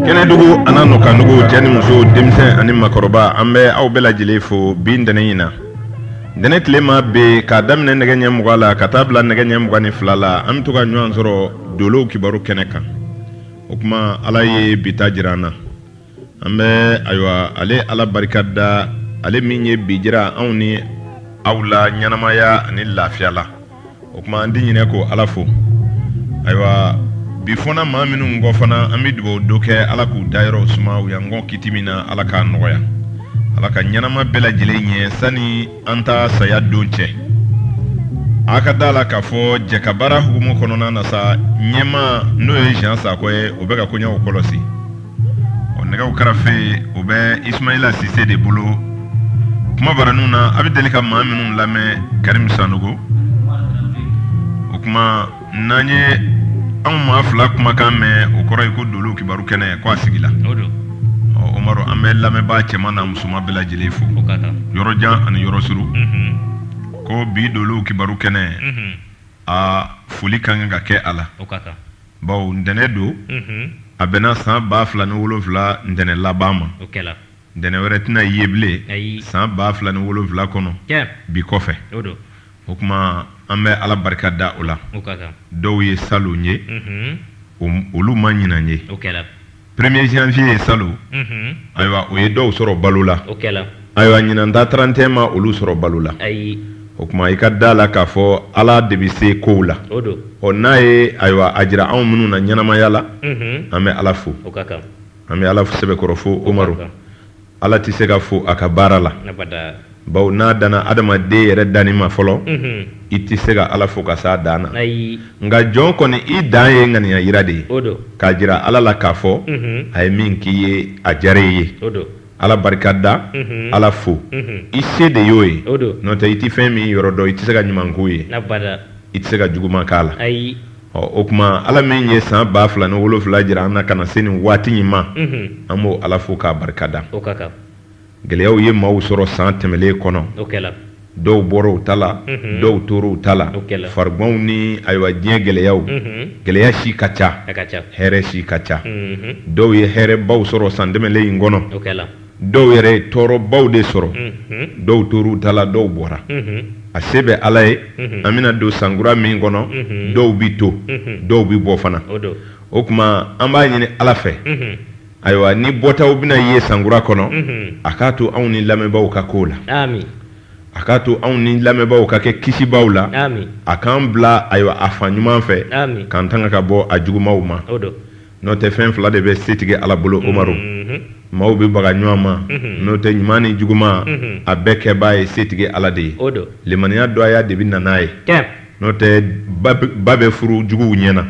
kɛnɛdugu an'a nɔkandugu cɛ ni muso denmisɛn ani makɔrɔba an bɛ aw bɛɛ lajɛlen fo bi ntɛnɛ in na ntɛnɛ tilema bɛɛ k'a daminɛ nɛgɛ ɲɛ muga la ka taa bila nɛgɛ ɲɛ muga ni fila la an be to ka ɲɔgɔn sɔrɔ dolow kibaru kɛnɛ kan o kuma ala ye bi ta jira an na an bɛ ayiwa ale ala barika da ale min ye bi jira anw ni aw la ɲɛnamaya ani lafiya la o kuma an ti ɲinɛ k'o ala fo ayiwa bi fɔna maa minnu kɔ fana an bɛ dugawu dɔ kɛ ala k'u dayɔrɔw suma u y'an kɔn kiti min na ala k'a nɔgɔya ala ka ɲɛnama bɛɛ lajɛlen ɲɛ sani an ta saya don cɛ a ka da la k'a fɔ jɛkabaara hukumu kɔnɔna na sa ɲɛmaa n'o ye jean sakɔ ye o bɛ ka koɲɛw kɔlɔsi o nɛgɛw karafe o bɛ isumayila sise de bolo kuma baraniw na a bɛ deli ka maa minnu lamɛn karimu sanogo o kuma n'a ye anw maa fila kumakan mɛn o kɔrɔ ye ko dolow kibaru kɛnɛ ko a sigila omaru an bɛ lamɛnbaa cɛman n'a musoman bɛɛ lajɛlen fo yɔrɔ jan ani yɔrɔ suru ko bi dolow kibaru kɛnɛ a foli ka kan ka kɛ a la baw ntɛnɛn don a bɛnna san ba fila ni wolonfila ntɛnɛn laban ma ntɛnɛn wɛrɛ tɛna ye bilen san ba fila ni wolonfila kɔnɔ bi kɔfɛ o kuma an bɛ ala barika da o la dɔw ye salon ye olu ma ɲinan ye premier janvier ye salon mhm. ayiwa o ye dɔw sɔrɔ balo la ayiwa ɲinan ta 31 ma olu sɔrɔ balo la o kuma i ka da la k'a fɔ ala de bɛ se kow la ɔ n'a ye ayiwa a jira anw minnu na ɲɛnamaya la mhm. an bɛ ala fo an bɛ ala sɛbɛkɔrɔ fo omaru Ala tɛ se ka fo a ka baara la baw n'a danna adamaden yɛrɛ danni ma fɔlɔ i tɛ se ka ala fo ka s'a dan na nka jɔn kɔni i dan ye ŋaniya yira de ye k'a jira ala la k'a fɔ a ye min k'i ye a diyara i ye ala barika da ala fo i se de y'o ye n'o tɛ i tɛ fɛn min yɔrɔ dɔn i tɛ se ka ɲuman k'o ye i tɛ se ka juguman k'a la ɔ o kuma ala min ye san ba fila ni wolonfila jira an na ka na se nin waati in ma an b'o ala fo k'a barika da gɛlɛyaw ye maaw sɔrɔ san tɛmɛlen kɔnɔ dɔw bɔra u ta la dɔw tora u ta la farigwanw ni ayiwa diɲɛ gɛlɛyaw gɛlɛya si ka ca hɛrɛ si ka ca dɔw ye hɛrɛbaw sɔrɔ san tɛmɛlen in kɔnɔ dɔw yɛrɛ ye tɔɔrɔbaw de sɔrɔ dɔw tora u ta la dɔw bɔra a se bɛ ala ye an bɛna don sankura min kɔnɔ dɔw bɛ to dɔw bɛ bɔ fana o kuma an b'a ɲini ala fɛ ayiwa ni bɔtaw bɛna ye sankura kɔnɔ a k'a to anw ni lamɛnbaaw ka k'o la a k'a to anw ni lamɛnbaaw ka kɛ kisibaw la a k'an bila ayiwa a fan ɲuman fɛ k'an tanga ka bɔ a jugumaw ma n'o tɛ fɛn fila de bɛ setigi ala bolo omaru maaw bɛ baga ɲɔgɔn ma n'o tɛ ɲuman ni juguman a bɛɛ kɛbaa ye setigi ala de ye limaniya dɔgɔya de bi na n'a ye n'o tɛ ba bɛ furu juguw ɲɛna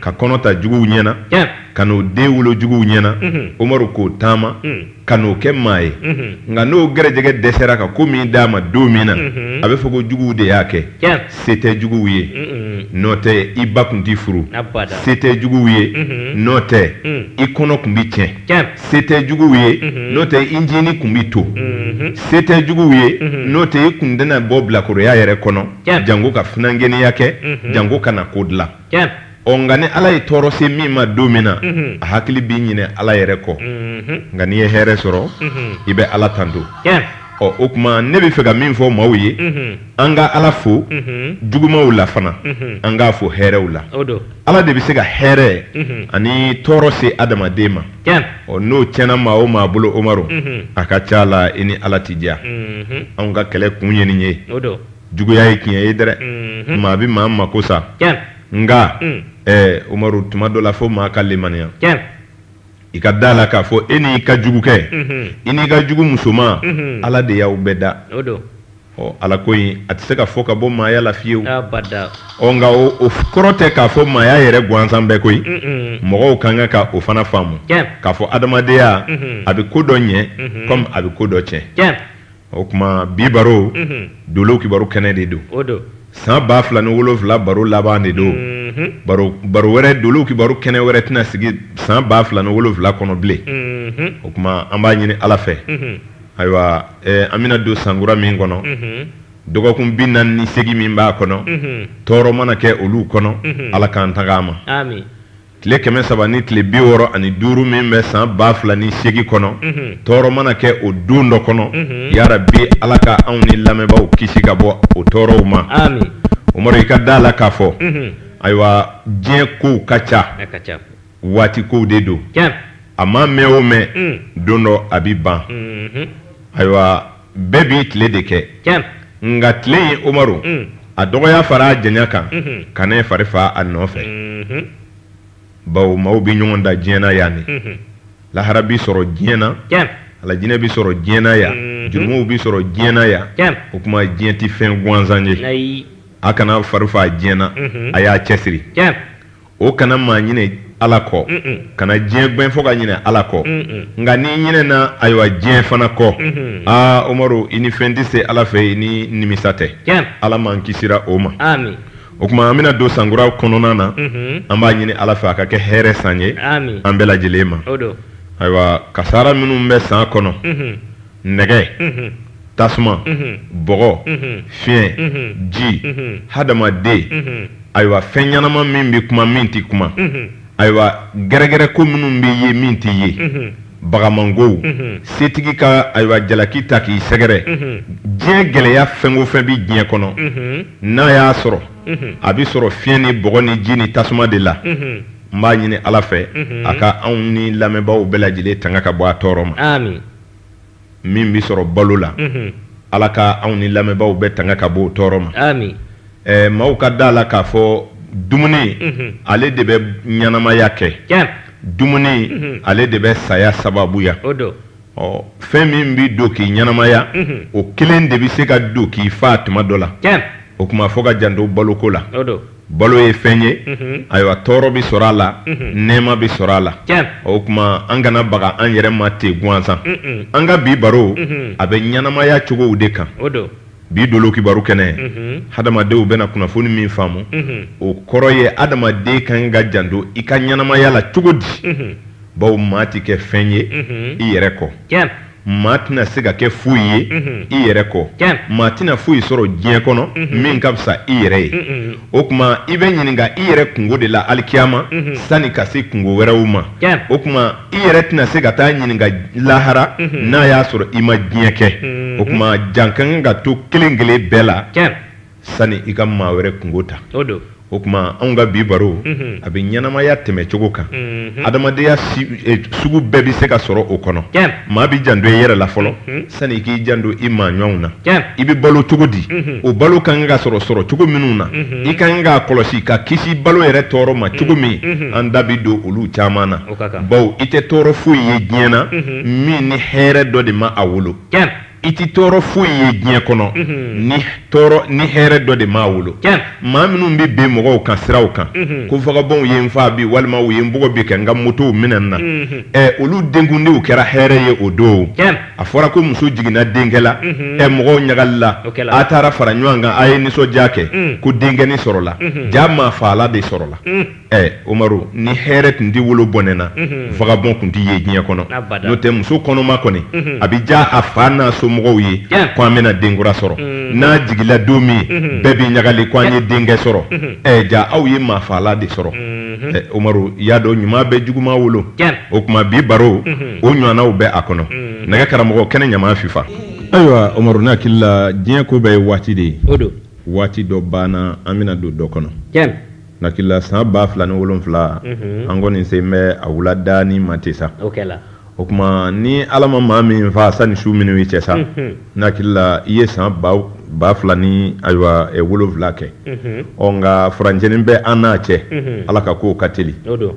ka kɔnɔ ta juguw ɲɛna ka n'o den wolo juguw ɲɛna omaru k'o taama ka n'o kɛ maa ye nka n'o gɛrɛjɛgɛ dɛsɛra ka ko min d'a ma don min na a bɛ fɔ ko juguw de y'a kɛ se tɛ juguw ye n'o tɛ i ba tun tɛ furu se tɛ juguw ye n'o tɛ i kɔnɔ tun bɛ tiɲɛ se tɛ juguw ye n'o tɛ i jiginni tun bɛ to se tɛ juguw ye n'o tɛ i kun tɛna bɔ bilakoroya yɛrɛ kɔnɔ jango ka funankɛninya kɛ jango ka na ko dilan ɔ nka ni ala ye tɔɔrɔ se min ma don min na mhm. a hakili bi ɲinɛ ala yɛrɛ kɔ mhm. nka n'i ye hɛrɛ sɔrɔ mhm. i bɛ ala tanto ɔ o kuma ne bɛ fɛ ka min fɔ maaw ye an ka ala fo jugumaw la fana an k'a fo hɛrɛw la ala de bɛ se ka hɛrɛ ani tɔɔrɔ se adamaden ma ɔ n'o tiɲɛna maa o maa bolo omaru a ka ca la i ni ala ti diya anw ka kɛlɛ kun ye nin ye juguya ye tiɲɛ ye dɛrɛ maa bɛ maa mako sa nka umaru tuma dɔ la fo maa ka limaniya i ka da la k'a fɔ e n'i ka jugukɛ i n'i ka jugu musoman ala de y'aw bɛɛ da ɔ ala ko in a tɛ se ka fɔ ka bɔ maaya la fiyewu nka o kɔrɔ tɛ k'a fɔ maaya yɛrɛ gansan bɛɛ koyi mɔgɔw ka kan ka o fana faamu k'a fɔ adamadenya a bɛ ko dɔ ɲɛ kɔmi a bɛ ko dɔ tiɲɛ o kuma bi baro dolow kibaru kɛnɛ de don san ba fila ni wolonfila baro laban de don baro wɛrɛ dolow kibaru kɛnɛ wɛrɛ tɛna sigi san ba fila ni wolonfila kɔnɔ bilen o kuma an b'a ɲini ala fɛ ayiwa an bɛna don sankura min kɔnɔ dɔgɔkun bi naani ni segin min b'a kɔnɔ tɔɔrɔ mana kɛ olu kɔnɔ ala k'an tanga a ma tile kɛmɛ saba ni tile bi wɔɔrɔ ani duuru min bɛ san ba fila ni segin kɔnɔ mhm. tɔɔrɔ mana kɛ o don dɔ kɔnɔ mhm. yarabi ala ka anw ni lamɛnbaaw kisi ka bɔ o tɔɔrɔw ma umaru i ka da la k'a fɔ mhm. ayiwa diɲɛ kow ka ca waati kow de don a ma mɛn o mɛn mm. don dɔ a bi ban ayiwa bɛɛ b'i tile de kɛ nka tile in umaru mm. a dɔgɔya fara a janya kan mm-hmm. ka ne fari faa a nɔfɛ mm-hmm. bawo maaw bɛ ɲɔgɔn dan diɲɛ na yan ne mm-hmm. lahara bi sɔrɔ diɲɛ na alajinɛ bi sɔrɔ diɲɛ na yan jurumuw bi sɔrɔ diɲɛ na yan o kuma diɲɛ tɛ fɛn gansan ye a kana fari faa diɲɛ na a y'a cɛsiri o kana maa ɲinɛ ala kɔ kana diɲɛ gbɛn fo ka ɲinɛ ala kɔ nka n'i ɲinɛna ayiwa diɲɛ fana kɔ aa umaru i ni fɛn tɛ se ala fɛ i ni nimisa tɛ ala m'an kisira o ma o kuma an bɛna don sankura kɔnɔna na an b'a ɲini ala fɛ a ka kɛ hɛrɛ san ye an bɛɛ lajɛlen ma ayiwa kasara minnu bɛ san kɔnɔ nɛgɛ tasuma bɔgɔ fiɲɛ ji hadamaden ayiwa fɛn ɲɛnama min bɛ kuma min tɛ kuma ayiwa gɛrɛgɛrɛ ko minnu bɛ ye min tɛ ye bagamangow setigi ka ayiwa jalaki ta k'i sɛgɛrɛ diɲɛ gɛlɛya fɛn o fɛn bɛ diɲɛ kɔnɔ n'a y'a sɔrɔ a bɛ sɔrɔ fiɲɛ ni bɔgɔ ni ji ni tasuma de la n b'a ɲini ala fɛ a ka anw ni lamɛnbaaw bɛɛ lajɛlen tanga ka bɔ a tɔɔrɔ ma min bɛ sɔrɔ balo la ala ka anw ni lamɛnbaaw bɛɛ tanga ka bɔ o tɔɔrɔ ma maaw ka da la k'a fɔ dumuni ale de bɛ ɲɛnamaya kɛ dumuni ale de bɛ saya sababuya ɔ fɛn min bɛ don k'i ɲɛnamaya o kelen de bɛ se ka don k'i faa tuma dɔ la o kuma fo ka janto baloko la balo ye fɛn ye ayiwa tɔɔrɔ bɛ sɔrɔ a la nɛɛma bɛ sɔrɔ a la o kuma an kana baga an yɛrɛ ma ten gansan an ka bi baro a bɛ ɲɛnamaya cogow de kan bi dolo kibaru kɛnɛ hadamadenw bɛna kunnafoni min faamu o kɔrɔ ye adamaden ka kan ka janto i ka ɲɛnamaya la cogo di bawo maa tɛ kɛ fɛn ye i yɛrɛ kɔ maa tɛna se ka kɛ foyi ye i yɛrɛ kɔ maa tɛna foyi sɔrɔ diɲɛ kɔnɔ min ka fisa i yɛrɛ ye o kuma i bɛ ɲininka i yɛrɛ kunko de la alikiyama sani ka se kunko wɛrɛw ma o kuma i yɛrɛ tɛna se ka taa ɲininka lahara n'a y'a sɔrɔ i ma diɲɛ kɛ o kuma jan ka kan ka to kelen kelen bɛɛ la sani i ka maa wɛrɛ kunko ta o kuma anw ka bi baro mhm. a bɛ ɲɛnamaya tɛmɛcogo kan mhm. adamadenya e, sugu bɛɛ bɛ se ka sɔrɔ o kɔnɔ maa bɛ janto i yɛrɛ la fɔlɔ mhm. sani i k'i janto i maa ɲɔgɔnw na i bɛ balo cogo di o balo ka kan ka sɔrɔ sɔrɔ cogo minnu na i ka kan k'a kɔlɔsi ka kisi balo yɛrɛ tɔɔrɔ ma cogo min an da bɛ don olu caman na bawo i tɛ tɔɔrɔ foyi ye diɲɛ na min ni hɛrɛ dɔ de ma a wolo i tɛ tɔɔrɔ foyi ye diɲɛ kɔnɔ ni tɔɔrɔ ni hɛrɛ dɔ de m'a wolo maa minnu bɛ bin mɔgɔw kan siraw kan ko vagabɔnw ye n faa bi walima u ye n bugɔ bi ka n ka motow minɛ n na ɛ olu denkundiw kɛra hɛrɛ ye o don a fɔra ko muso jiginna denkɛ la ɛ mɔgɔw ɲagalila a taara fara ɲɔgɔn kan a ye nisɔndiya kɛ ko denkɛnin sɔrɔla jaa maafaala de sɔrɔla ɛ omaru ni hɛrɛ tun tɛ wolo bɔnɛ na vagabɔn tun tɛ ye diɲɛ kɔnɔ Abada. n'o tɛ muso kɔnɔma kɔni a bɛ diya a fa n'a somɔgɔw ye Tiɲɛ. ko an bɛna den kura sɔrɔ n'a jigila don min bɛɛ bɛ ɲagali ko an ye denkɛ sɔrɔ ɛ jaa aw ye maafaala de sɔrɔ ɛ omaru i y'a dɔn ɲuman bɛ juguman wolo Tiɲɛ. o tuma bi baro o ɲɔgɔnnaw bɛ a kɔnɔ nɛgɛ karamɔgɔ kɛnɛ ɲama fifa ayiwa omaru ne hakili la diɲɛ ko bɛɛ ye waati de ye o don waati dɔ banna an bɛna don dɔ kɔnɔ tiɲɛ N hakili la san ba fila ni wolonwula an kɔni sen bɛ a wulada ni ma tɛ sa o tuma ni ala ma maa min faa sani su minnu cɛ sa n hakili la i ye san ba fila ni ayiwa wolonwula kɛ ɔ nka furancɛnin bɛ an n'a cɛ ala ka kow ka teli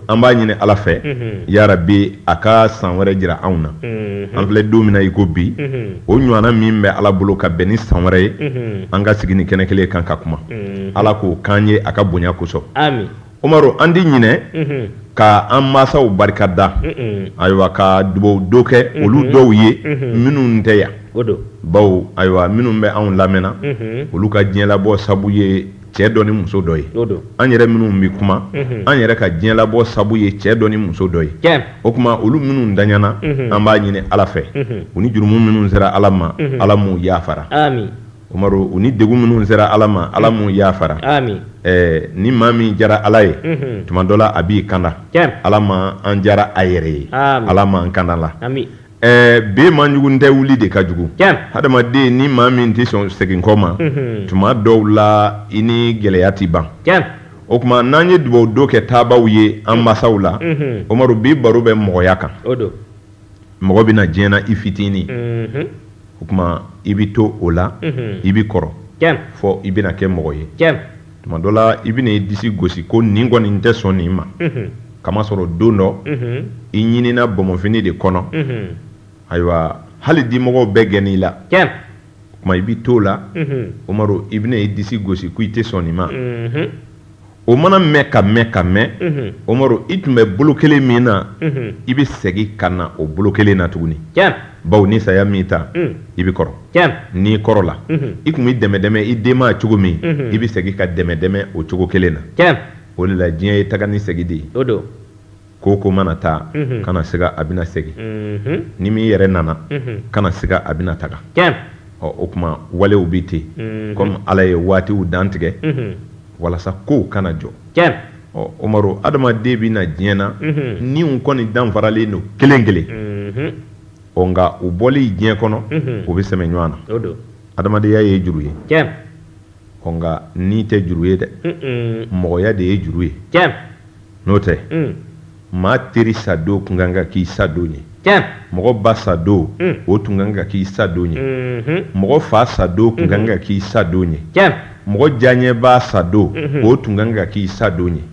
an b'a ɲini ala fɛ yarabi a ka san wɛrɛ jira anw na an filɛ don min na i ko bi o ɲɔgɔnna min bɛ ala bolo ka bɛn ni san wɛrɛ ye an ka sigi ni kɛnɛ kelen kan ka kuma mm-hmm. ala k'o k'an ye a ka bonya kosɔn umaru an di ɲinɛ mm-hmm. ka an masaw barika da ayiwa ka dubaw don kɛ mm-hmm. olu dɔw ye minnu tɛ yan bawo ayiwa minnu bɛ anw lamɛnna olu ka diɲɛlabɔ sabu ye cɛ dɔ ni muso dɔ ye an yɛrɛ minnu bɛ kuma mhm. an yɛrɛ ka diɲɛlabɔ sabu ye cɛ dɔ ni muso dɔ ye o tuma olu minnu daɲana mhm. an b'a ɲini ala fɛ mhm. u ni jurumu minnu sera ala ma ala m'u yafara Umaru u ni degun minnu sera Ala ma Ala m'u yafara, aami, ɛ ni maa min diyara Ala ye, unhun, tuma dɔ la a b'i kanda, tiɲɛ, Ala ma an diyara a yɛrɛ ye, aami, Ala ma an kanda la, aami, ɛ ben man jugu n tɛ wuli de ka jugu, tiɲɛ, hadamaden ni maa min tɛ sɔn segin kɔ ma, unhun, tuma dɔw la i ni gɛlɛya tɛ ban, tiɲɛ, o tuma n'an ye dubawu don kɛ taabaaw ye an masaw la, unhun, Umaru bi baro bɛ mɔgɔya kan, o don. mɔgɔ bɛ na diɲɛ na i fitinin mhm. o tuma i bɛ to o la mhm. i bɛ kɔrɔ fɔ i bɛna kɛ mɔgɔ ye tuma dɔ la i bɛna i disi gosi ko nin kɔni n tɛ sɔn nin ma mhm. kamasɔrɔ don dɔ i ɲinina bɔnbɔnfini de kɔnɔ ayiwa hali dimɔgɔw bɛɛ gɛnna i la tuma i bɛ to o la umaru i bɛna i disi gosi ko i tɛ sɔn nin ma o mana mɛn ka mɛn ka mɛn omaru i tun bɛ bolo kelen min na i bɛ segin ka na o bolo kelen na tuguni bawo ni saya m'i ta i bɛ kɔrɔ n'i kɔrɔla i tun bɛ dɛmɛ dɛmɛ i denma cogo min i bɛ segin ka dɛmɛ dɛmɛ o cogo kelen na o de la diɲɛ ye taga ni segin de ye ko ko mana taa kana siga a bɛna segin ni min yɛrɛ nana kana siga a bɛna taga ɔ o kuma walew bɛ ten kɔmi ala ye waatiw dantigɛ walasa kow kana jɔ ɔ omaru adamaden bɛ na diɲɛ na niw kɔni danfaralen don kelen kelen ɔ nka u bɔlen diɲɛ kɔnɔ u bɛ sɛmɛ ɲɔgɔn na adamadenya ye juru ye nka ni tɛ juru ye dɛ mɔgɔya de ye juru ye n'o tɛ maa teri sadon tun kan ka k'i sadon ye mɔgɔ ba sadon o tun kan ka k'i sadon ye mɔgɔ fa sadon tun kan ka k'i sadon ye mɔgɔ diyaɲɛbaa sadon o tun kan ka k'i sadon ye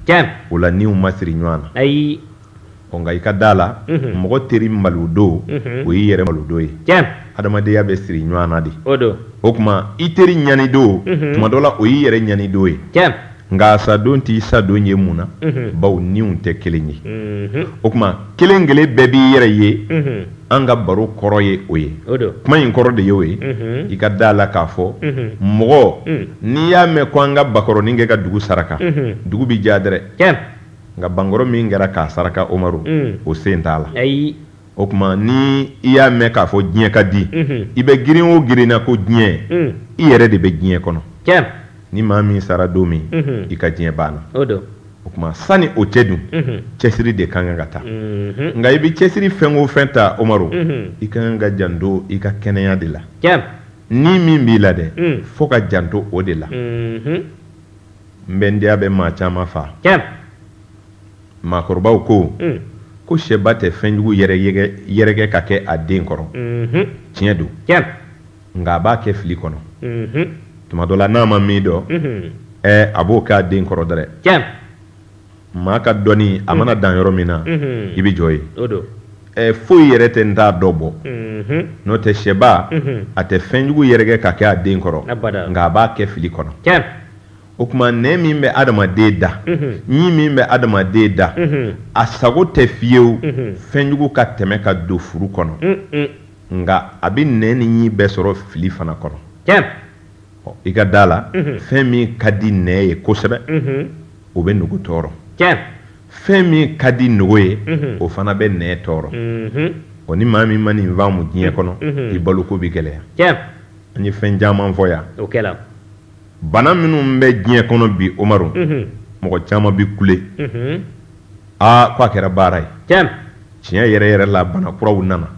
o la niw ma siri ɲɔgɔn na ayi nka i ka da a la mɔgɔ teri malodon o y'i yɛrɛ malodon ye adamadenya bɛ siri ɲɔgɔn na de o kuma i teri ɲanidon tuma dɔ la o y'i yɛrɛ ɲanidon ye nka a sadon t'i sadon ye mun na bawo niw tɛ kelen ye o kuma kelen kelen bɛɛ b'i yɛrɛ ye an ka baro kɔrɔ ye o ye kuma in kɔrɔ de y'o ye i ka da a la k'a fɔ mɔgɔ n'i y'a mɛn ko an ka bakɔrɔnin kɛ ka dugu saraka dugu bɛ diya dɛrɛ nka bankɔrɔ min kɛra k'a saraka omaru o sen t'a la o kuma ni i y'a mɛn k'a fɔ diɲɛ ka di i bɛ girin o girinna ko diɲɛ i yɛrɛ de bɛ diɲɛ kɔnɔ ni maa min sara don min i ka diɲɛ banna o kuma sani o cɛ dun cɛsiri de ka kan ka ta nka i bɛ cɛsiri fɛn o fɛn ta omaru i ka kan ka janto i ka kɛnɛya de la ni min b'i la dɛ fo ka janto o de la n bɛ n diya bɛ maa caman faa maakɔrɔbaw ko mm. ko sɛba tɛ fɛnjugu yɛrɛkɛ ka kɛ a den kɔrɔ mm-hmm. tiɲɛ don nka a b'a kɛ fili kɔnɔ mm-hmm. tuma dɔ la n'a ma min dɔn mm-hmm. ɛ a b'o kɛ a den kɔrɔ dɛrɛ maa ka dɔnni a mana dan yɔrɔ min na i bɛ jɔ yen ɛ foyi yɛrɛ tɛ n t'a dɔn bɔ n'o tɛ sɛba a tɛ fɛnjugu yɛrɛkɛ ka kɛ a den kɔrɔ nka a b'a kɛ fili kɔnɔ o kuma nɛn min bɛ adamaden da ɲin min bɛ adamaden da a sago tɛ fiyewu fɛnjugu ka tɛmɛ ka don furu kɔnɔ nka a bɛ nɛn ni ɲin bɛɛ sɔrɔ fili fana kɔnɔ i ka da la fɛn min ka di nɛn ye kosɛbɛ o bɛ nugu tɔɔrɔ fɛn min ka di nugu ye o fana bɛ nɛn tɔɔrɔ o ni maa min ma nin faamu diɲɛ kɔnɔ i baloko bɛ gɛlɛya an ye fɛn caman fɔ yan bana minnu bɛ diɲɛ kɔnɔ bi umaru mɔgɔ caman bɛ kule aa ko a kɛra baara ye tiɲɛ yɛrɛ yɛrɛ la bana kuraw nana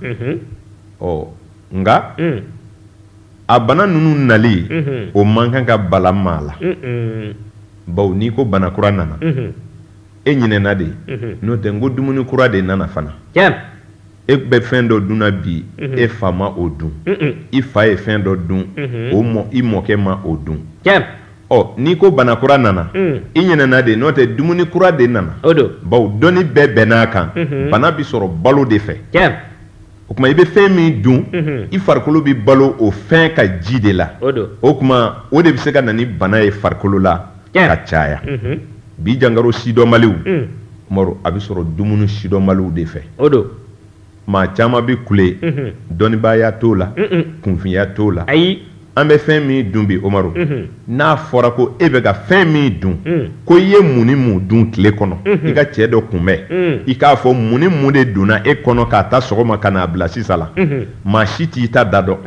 ɔ nka a bana ninnu nali o man kan ka bala maa la baw n'i ko bana kura nana e ɲinɛna de ye n'o tɛ n ko dumuni kura de nana fana e bɛ fɛn dɔ dun na bi e fa ma o dun i fa ye fɛn dɔ dun o mɔ i mɔkɛ ma o dun ɔ n'i ko bana kura nana i ɲinɛna de n'o tɛ dumuni kura de nana baw dɔnni bɛɛ bɛnn'a kan bana bɛ sɔrɔ balo de fɛ o kuma i bɛ fɛn min dun i farikolo bɛ balo o fɛn ka ji de la o kuma o de bɛ se ka na ni bana ye farikolo la ka caya bi jankaro sidɔnbaliw umaru a bɛ sɔrɔ dumuni sidɔnbaliw de fɛ o maa caman bɛ kule dɔnnibaaya t'o la kunfinya t'o la ayi an bɛ fɛn min dun bi umaru n'a fɔra ko e bɛ ka fɛn min dun ko i ye mun ni mun dun tile kɔnɔ i ka cɛ dɔ kunbɛn i k'a fɔ mun ni mun de donna e kɔnɔ k'a ta sɔgɔma ka n'a bila sisan la maa si t'i ta da dɔn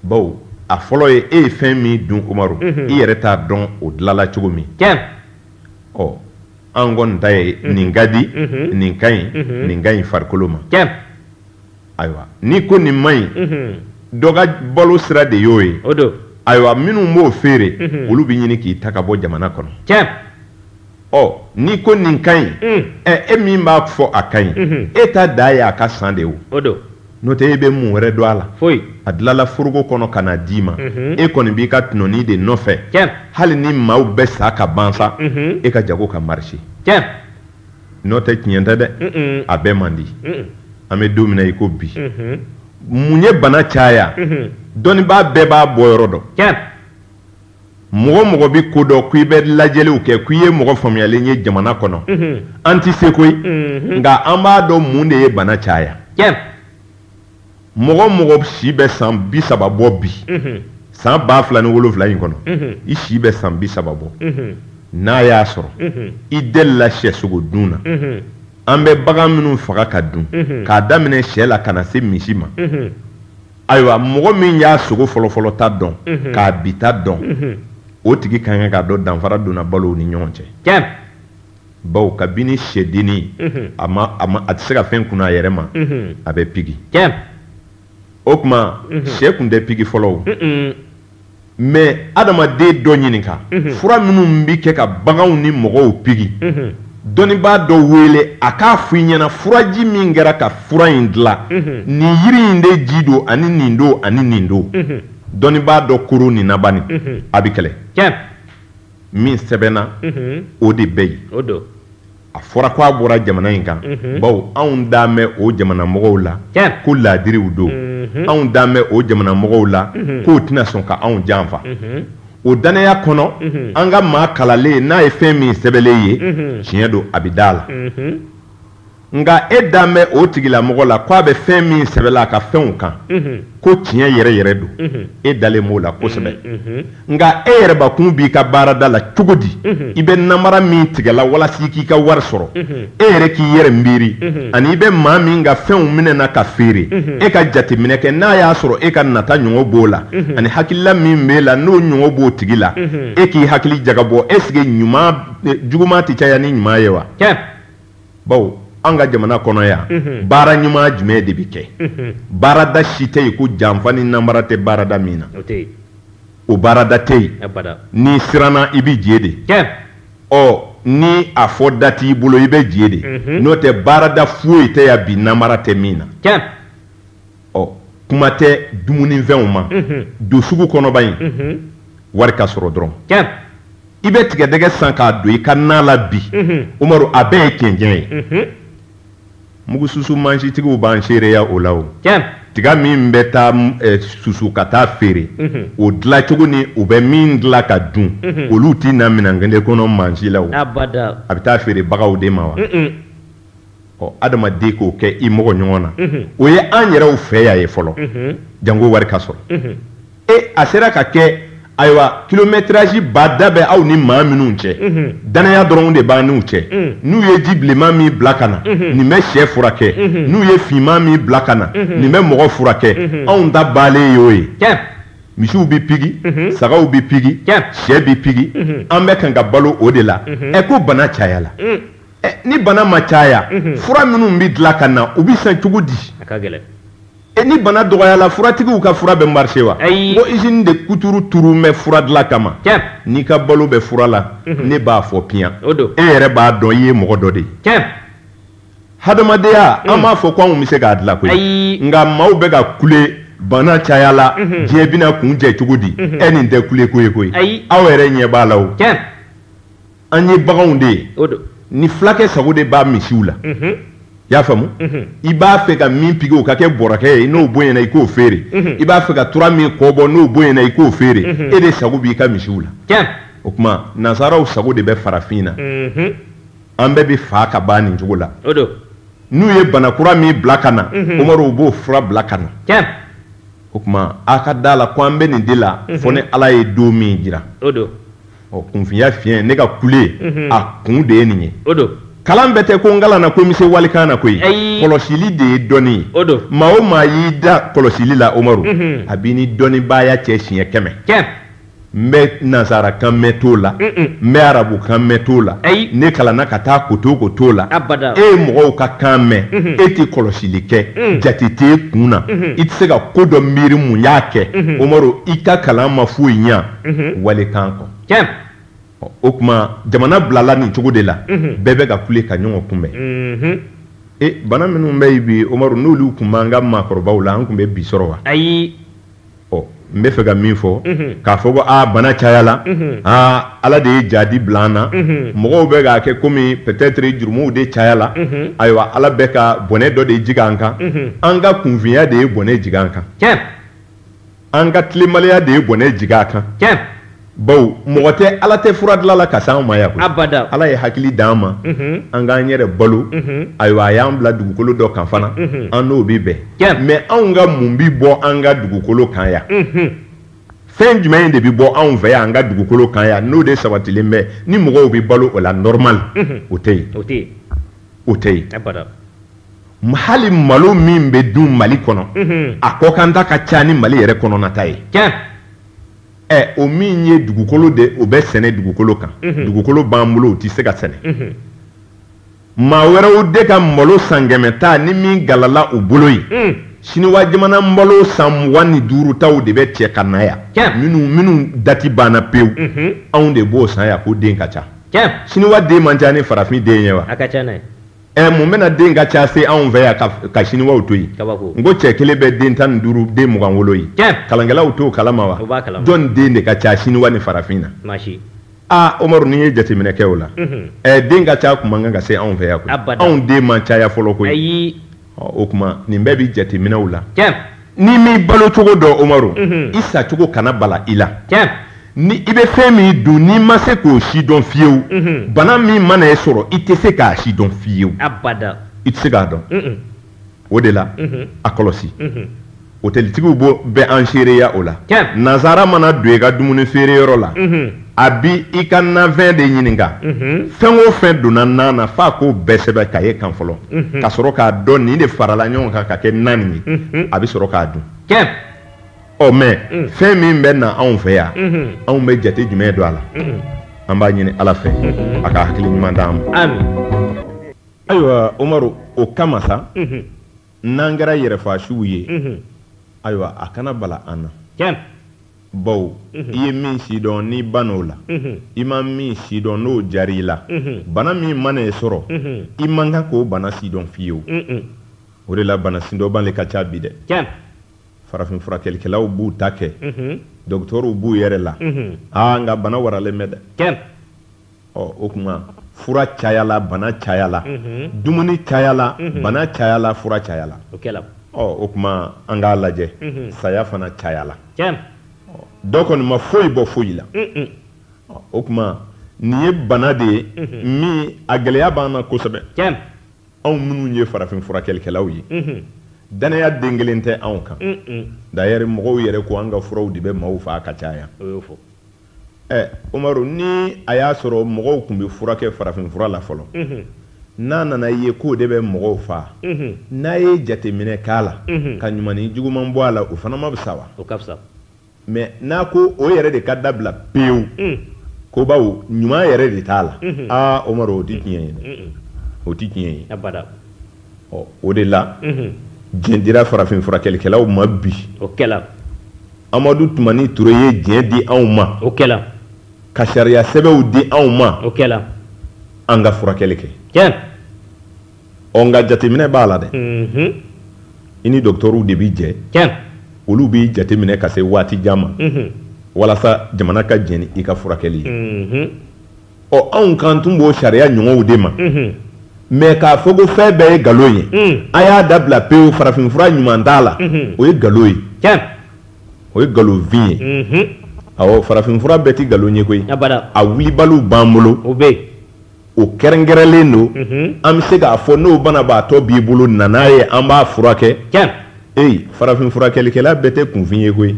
baw a fɔlɔ ye e ye fɛn min dun umaru mhm. i yɛrɛ t'a dɔn o dilala cogo min ɔ an kɔni ta ye mhm. nin ka di mhm. nin ka ɲi nin ka ɲi farikolo ma ayiwa n'i ko nin man ɲi dɔ ka balo sira de y'o ye ayiwa minnu b'o feere olu bɛ ɲini k'i ta ka bɔ jamana kɔnɔ ɔ n'i ko nin ka ɲi ɛ e min b'a fɔ a ka ɲi e ta da ye a ka san de o n'o tɛ e bɛ mun wɛrɛ dɔn a la a dilala foroko kɔnɔ ka na d'i ma e kɔni b'i ka tɔnɔni de nɔfɛ hali ni maaw bɛ sa ka ban sa e ka jago ka marisi n'o tɛ tiɲɛ tɛ dɛ a bɛɛ man di an bɛ don min na i ko bi mun ye bana caya dɔnnibaa bɛɛ b'a bɔ yɔrɔ dɔn mɔgɔ o mɔgɔ bɛ ko dɔn ko i bɛ lajɛliw kɛ ko i ye mɔgɔ faamuyalen ye jamana kɔnɔ an tɛ se koyi nka an b'a dɔn mun de ye bana caya mɔgɔ mɔgɔ si bɛ san bi saba bɔ bi san ba fila ni wolowula in kɔnɔ i si bɛ san bi saba bɔ n'a y'a sɔrɔ i delila sɛ sogo dun na an bɛ bagan minnu faga ka dun k'a daminɛ sɛ la ka na se misi ma ayiwa mɔgɔ min y'a sogo fɔlɔfɔlɔ ta dɔn mhm. k'a bi ta dɔn mhm. o tigi ka kan k'a dɔn danfara donna balow ni ɲɔgɔn cɛ bawo kabini sɛdenni mhm. a ma a ma a tɛ se ka fɛn kun a yɛrɛ ma a bɛ pigi o tuma sɛ kun tɛ pigi fɔlɔ o mɛ adamaden dɔ ɲininka fura minnu bɛ kɛ ka baganw ni mɔgɔw pigi dɔnnibaa dɔ wele a k'a fɔ i ɲɛna furaji min kɛra ka fura in dilan nin yiri in de ji don ani nin don ani nin don dɔnnibaa dɔ koro ni naban a bɛ kɛlɛ min sɛbɛnna o de bɛ yen a fɔra ko a bɔra jamana in kan bawo anw dalen bɛ o jamana mɔgɔw la ko laadiriw don anw dalen bɛ o jamana mɔgɔw la k'o tɛna sɔn ka anw janfa o danaya kɔnɔ an ka maa kalalen n'a ye fɛn min sɛbɛnlen ye tiɲɛ don a bɛ da la nka e dalen bɛ o tigilamɔgɔ la ko a bɛ fɛn min sɛbɛnla a ka fɛnw kan ko tiɲɛ yɛrɛ yɛrɛ don e dalen b'o la kosɛbɛ nka e yɛrɛbakun b'i ka baarada la cogo di mhm. i bɛ namara min tigɛla walasa i k'i ka wari sɔrɔ mhm. e yɛrɛ k'i yɛrɛ miiri mhm. ani i bɛ maa min ka fɛnw minɛ na ka feere e ka jateminɛ kɛ n'a y'a sɔrɔ e ka nata ɲɔgɔn b'o la ani hakilila min b'e la n'o ɲɔgɔn b'o tigi la e k'i hakili jagabɔ esike ɲuman e, juguman tɛ caya ni ɲuman ye wa bawo an ka jamana kɔnɔ yan baara ɲuman jumɛn de bɛ kɛ baarada si tɛ yen ko janfa ni namara tɛ baarada min na o baarada tɛ yen n'i siranna i bɛ je de ɔ ni a fɔ da t'i bolo i bɛ je de n'o tɛ baarada foyi tɛ yan bi namara tɛ min na ɔ kuma tɛ dumunifɛnw ma don sugu kɔnɔ bani wari ka sɔrɔ dɔrɔn i bɛ tigɛdɛgɛ san k'a don i ka na la bi umaru a bɛɛ ye cɛncɛn ye mugususu mansitigiw b'an seereya o la o tiga min bɛ taa susu ka taa feere o dilan cogo ni u bɛ min dilan ka dun olu tɛ na minɛn kelen kɔnɔ mansi la a bɛ taa feere baganw de ma wa ɔ adamaden k'o kɛ i mɔgɔ ɲɔgɔn na o ye an yɛrɛw fɛ yan ye fɔlɔ jango wari ka sɔrɔ e a sera ka kɛ ayiwa kilomɛtirasi ba da bɛ aw ni maa minnu cɛ danaya dɔrɔn de b'an n'u cɛ n'u ye ji bilenman min bila ka na nin bɛ shɛ furakɛ n'u ye finman min bila ka na nin bɛ mɔgɔ furakɛ anw ta baalen ye o ye misiw bɛ pigi sagaw bɛ pigi shɛ bɛ pigi an bɛ kan ka balo o de la ɛ ko bana cayala ni bana ma caya fura minnu bɛ dilan ka na u bɛ san cogo di ni bana dɔgɔyala furatigiw ka fura bɛ marise wa ko izini de kuturu turulen bɛ fura dilan kama n'i ka balo bɛ fura la ne b'a fɔ piyan e yɛrɛ b'a dɔn i ye mɔgɔ dɔ de ye hadamadenya an b'a fɔ ko anw bɛ se k'a dilan koyi nka maaw bɛ ka kule bana cayala diɲɛ bɛna kuncɛ cogo di e nin tɛ kule ko ye koyi aw yɛrɛ ɲɛ b'a la an ye baganw de ye ni fulakɛ sago de b'a misiw la i y'a faamu i b'a fɛ ka min pigi o ka kɛ bɔrakɛ ye n'o bonyana i k'o feere i b'a fɛ ka tura min kɔ bɔ n'o bonyana i k'o feere e de sago b'i ka misiw la o tuma nansaraw sago de bɛ farafin na an bɛɛ bɛ fa ka ban nin cogo la n'u ye bana kura min bila ka na umaru b'o fura bila ka na o tuma aw ka da la ko an bɛ nin de la fo ni ala ye don min jira ɔ kunfinya fiɲɛ ne ka kule mhm. a kun de ye nin ye o don kalan bɛɛ tɛ ko n kalanna ko n bɛ se walikan na koyi kɔlɔsili de ye dɔnni ye o don maa o maa y'i da kɔlɔsili la omaru mhm. a b'i ni dɔnnibaaya cɛ siɲɛ kɛmɛ kɛmɛ n bɛ nansara kan mɛn t'o la n bɛ arabu kan mɛn t'o la ne kalanna ka taa koto ko t'o la e ye mɔgɔw ka kan mɛn mhm. e tɛ kɔlɔsili kɛ mhm. jate t'e kun na mhm. i tɛ se ka ko dɔ miiri mun y'a kɛ omaru i ka kalan ma foyi ɲɛ walikan kɔ o tuma jamana bilala nin cogo de la bɛɛ bɛ ka kule ka ɲɔgɔn kunbɛn bana minnu bɛ yen bi omaru n'olu tun b'an ka maakɔrɔbaw la an tun bɛ bi sɔrɔ wa ayi ɔ n bɛ fɛ ka min fɔ k'a fɔ ko aa bana cayala aa ala de ye jadi bila an na mɔgɔw bɛ k'a kɛ kɔmi peut-être jurumuw de cayala ayiwa ala bɛ ka bɔnɛ dɔ de jigin an kan an ka kunfinya de ye bɔnɛ jigin an kan an ka tilenbaliya de ye bɔnɛ jigin an kan tiɲɛ bawo mɔgɔ tɛ ala tɛ fura dilan la ka se anw ma yan koyi abada ala ye hakili d'an ma mhm. an k'an yɛrɛ balo mhm. ayiwa a y'an bila dugukolo dɔ kan fana mhm. an n'o bɛ bɛn tiɲɛ mɛ anw ka mun bi bɔ an ka dugukolo kan yan fɛn jumɛn de bɛ bɔ anw fɛ yan an ka dugukolo kan yan n'o de sabatilen bɛ ni mɔgɔw bɛ balo o la normal o tɛ yen o tɛ yen o tɛ yen abada hali malo min bɛ dun mali kɔnɔ a kɔkanta ka ca ni mali yɛrɛ kɔnɔnata ye ɛ o min ye dugukolo de o bɛ sɛnɛ dugukolo kan dugukolo b'an bolo o tɛ se ka sɛnɛ maa wɛrɛw de ka malo san kɛmɛ ta ni min galala u bolo yen siniwa jamana malo san mugan ni duurutaw de bɛ cɛ ka na yan minnu minnu dati banna pewu anw de b'o san yan ko den ka ca siniwa den man ca ni farafin den ye wa ɛ mun bɛna den ka ca se anw fɛ yan ka, ka siniwaw to yen n ko cɛ kelen bɛ den tan ni duuru den mugan wolo yen kalankɛlaw t'o kalama wa jɔn den de ka ca siniwa ni farafin na aa umaru n'i ye jateminɛ kɛ o la ɛ den ka ca kun man kan ka se anw fɛ yan koyi anw den ma caya fɔlɔ koyi o tuma nin bɛɛ bɛ jateminɛw la N'i m'i balo cogo dɔn Umaru, unhun, i sa cogo kana bala i la, tiɲɛ, ni i bɛ fɛn min dun n'i ma se k'o si dɔn fiyewu, unhun, bana min mana e sɔrɔ i tɛ se k'a si dɔn fiyewu, abada, i tɛ se k'a dɔn, un un, o de la, unhun, a kɔlɔsi, unhun, hotelitigiw bɛ an seereya o la, tiɲɛ, nansara mana don i ka dumuni feere yɔrɔ la, unhun. a bi i ka nanfɛn de ɲininka mhm. fɛn o fɛn donna nan na f'a k'o bɛɛ sɛbɛn kaye kan fɔlɔ mhm. ka sɔrɔ k'a dɔn nin de farala ɲɔgɔn kan ka kɛ nan nin ye mhm. a bɛ sɔrɔ k'a dun ɔ mɛ mm. fɛn min bɛ na anw fɛ yan anw bɛ jate jumɛn don a la an b'a ɲini ala fɛ a ka hakili ɲuman d'an ma ayiwa umaru o kama sa n'an kɛra yɛrɛfaasiw ye ayiwa a kana bala an na bawo i ye min sidɔn n'i ban'o la i ma min sidɔn n'o jar'i la bana min mana e sɔrɔ i man kan k'o bana sidɔn fiyewu o de la bana sidɔnbali ka ca bi dɛ farafin furakɛlikɛlaw b'u ta kɛ dɔgɔtɔrɔw b'u yɛrɛ la aa nka bana waralen bɛ dɛ o tuma fura cayala bana cayala dumuni cayala bana cayala fura cayala o tuma an k'a lajɛ saya fana cayala dɔ kɔni ma foyi bɔ foyi la o tuma nin ye bana de ye min a gɛlɛya b'an na kosɛbɛ anw minnu ye farafin furakɛlikɛlaw ye dannaya den kelen tɛ anw kan d'ailleurs mɔgɔw yɛrɛ ko an ka furaw de bɛ maaw faa ka caya ɛ umaru ni a y'a sɔrɔ mɔgɔw tun bɛ furakɛ farafinfura la fɔlɔ n'a nan'a ye k'o de bɛ mɔgɔw faa n'a ye jateminɛ k'a la ka ɲuman ni juguman bɔ a la o fana ma fisa wa o ka fisa mais n'a ko o yɛrɛ de ka dabila pewu ko bawo ɲuman yɛrɛ de t'a la aa umaru o tɛ tiɲɛ ye dɛ o tɛ tiɲɛ ye abada ɔ o de la jɛn dira farafinfurakɛlikɛlaw ma bi o kɛla Amadu Tumani Ture ye diɲɛ di anw ma, o kɛla, ka sariya sɛbɛnw di anw ma, o kɛla, an ka furakɛli kɛ, tiɲɛ, ɔ nka jateminɛ b'a la dɛ, unhun, i ni dɔgɔtɔrɔw de bɛ jɛ, tiɲɛ, olu b'i jateminɛ ka se waati jan ma, unhun, walasa jamana ka jɛn ni i ka furakɛli ye, unhun. ɔ anw kan tun b'o sariya ɲɔgɔnw de ma mɛ k'a fɔ ko fɛn bɛɛ ye nkalon ye a y'a dabila pewu farafinfura ɲuman t'a la o ye nkalon ye o ye nkalonfin ye awɔ farafinfura bɛɛ tɛ nkalon ye koyi a wulibaliw b'an bolo o kɛrɛnkɛrɛnlen don an bɛ se k'a fɔ n'o banabaatɔ b'i bolo na n'a ye an b'a furakɛ ee farafinfurakɛlikɛla bɛɛ tɛ kunfin ye koyi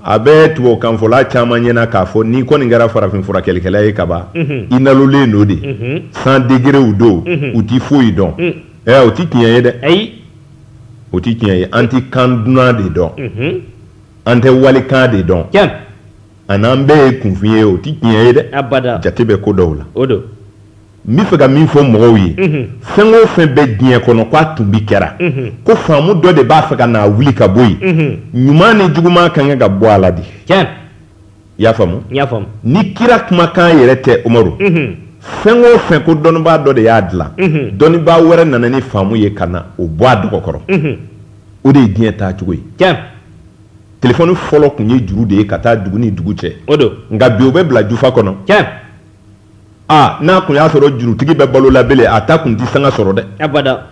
a bɛ tubabukanfɔla caman ɲɛna k'a fɔ n'i kɔni kɛra farafin furakɛlikɛla ye kaban i nalolen don de san degerew don u tɛ foyi dɔn ɛ o tɛ tiɲɛ ye dɛ ayi o tɛ tiɲɛ ye an tɛ kan dunan de dɔn an tɛ walikan de dɔn tiɲɛ a n'an bɛɛ ye kunfin ye o tɛ tiɲɛ ye dɛ abada jate bɛ ko dɔw la o don n bɛ fɛ ka min fɔ mɔgɔw ye fɛn o fɛn bɛ diɲɛ kɔnɔ k'a tun bi kɛra ko faamu dɔ de b'a fɛ ka n'a wuli ka bɔ yen ɲuman ni juguman ka kan ka bɔ a la de i y'a faamu ni kira kumakan yɛrɛ tɛ umaru fɛn o fɛn ko dɔnnibaa dɔ de y'a dilan dɔnnibaa wɛrɛ nana ni faamu ye ka na o bɔ a dɔgɔ kɔrɔ o de ye diɲɛ taacogo ye telefɔni fɔlɔ tun ye juru de ye ka taa dugu ni dugu cɛ nka bi o bɛ bila jufa kɔnɔ aa n'a kun y'a sɔrɔ jurutigi bɛ balo la belen a ta kun tɛ sanga sɔrɔ dɛ abada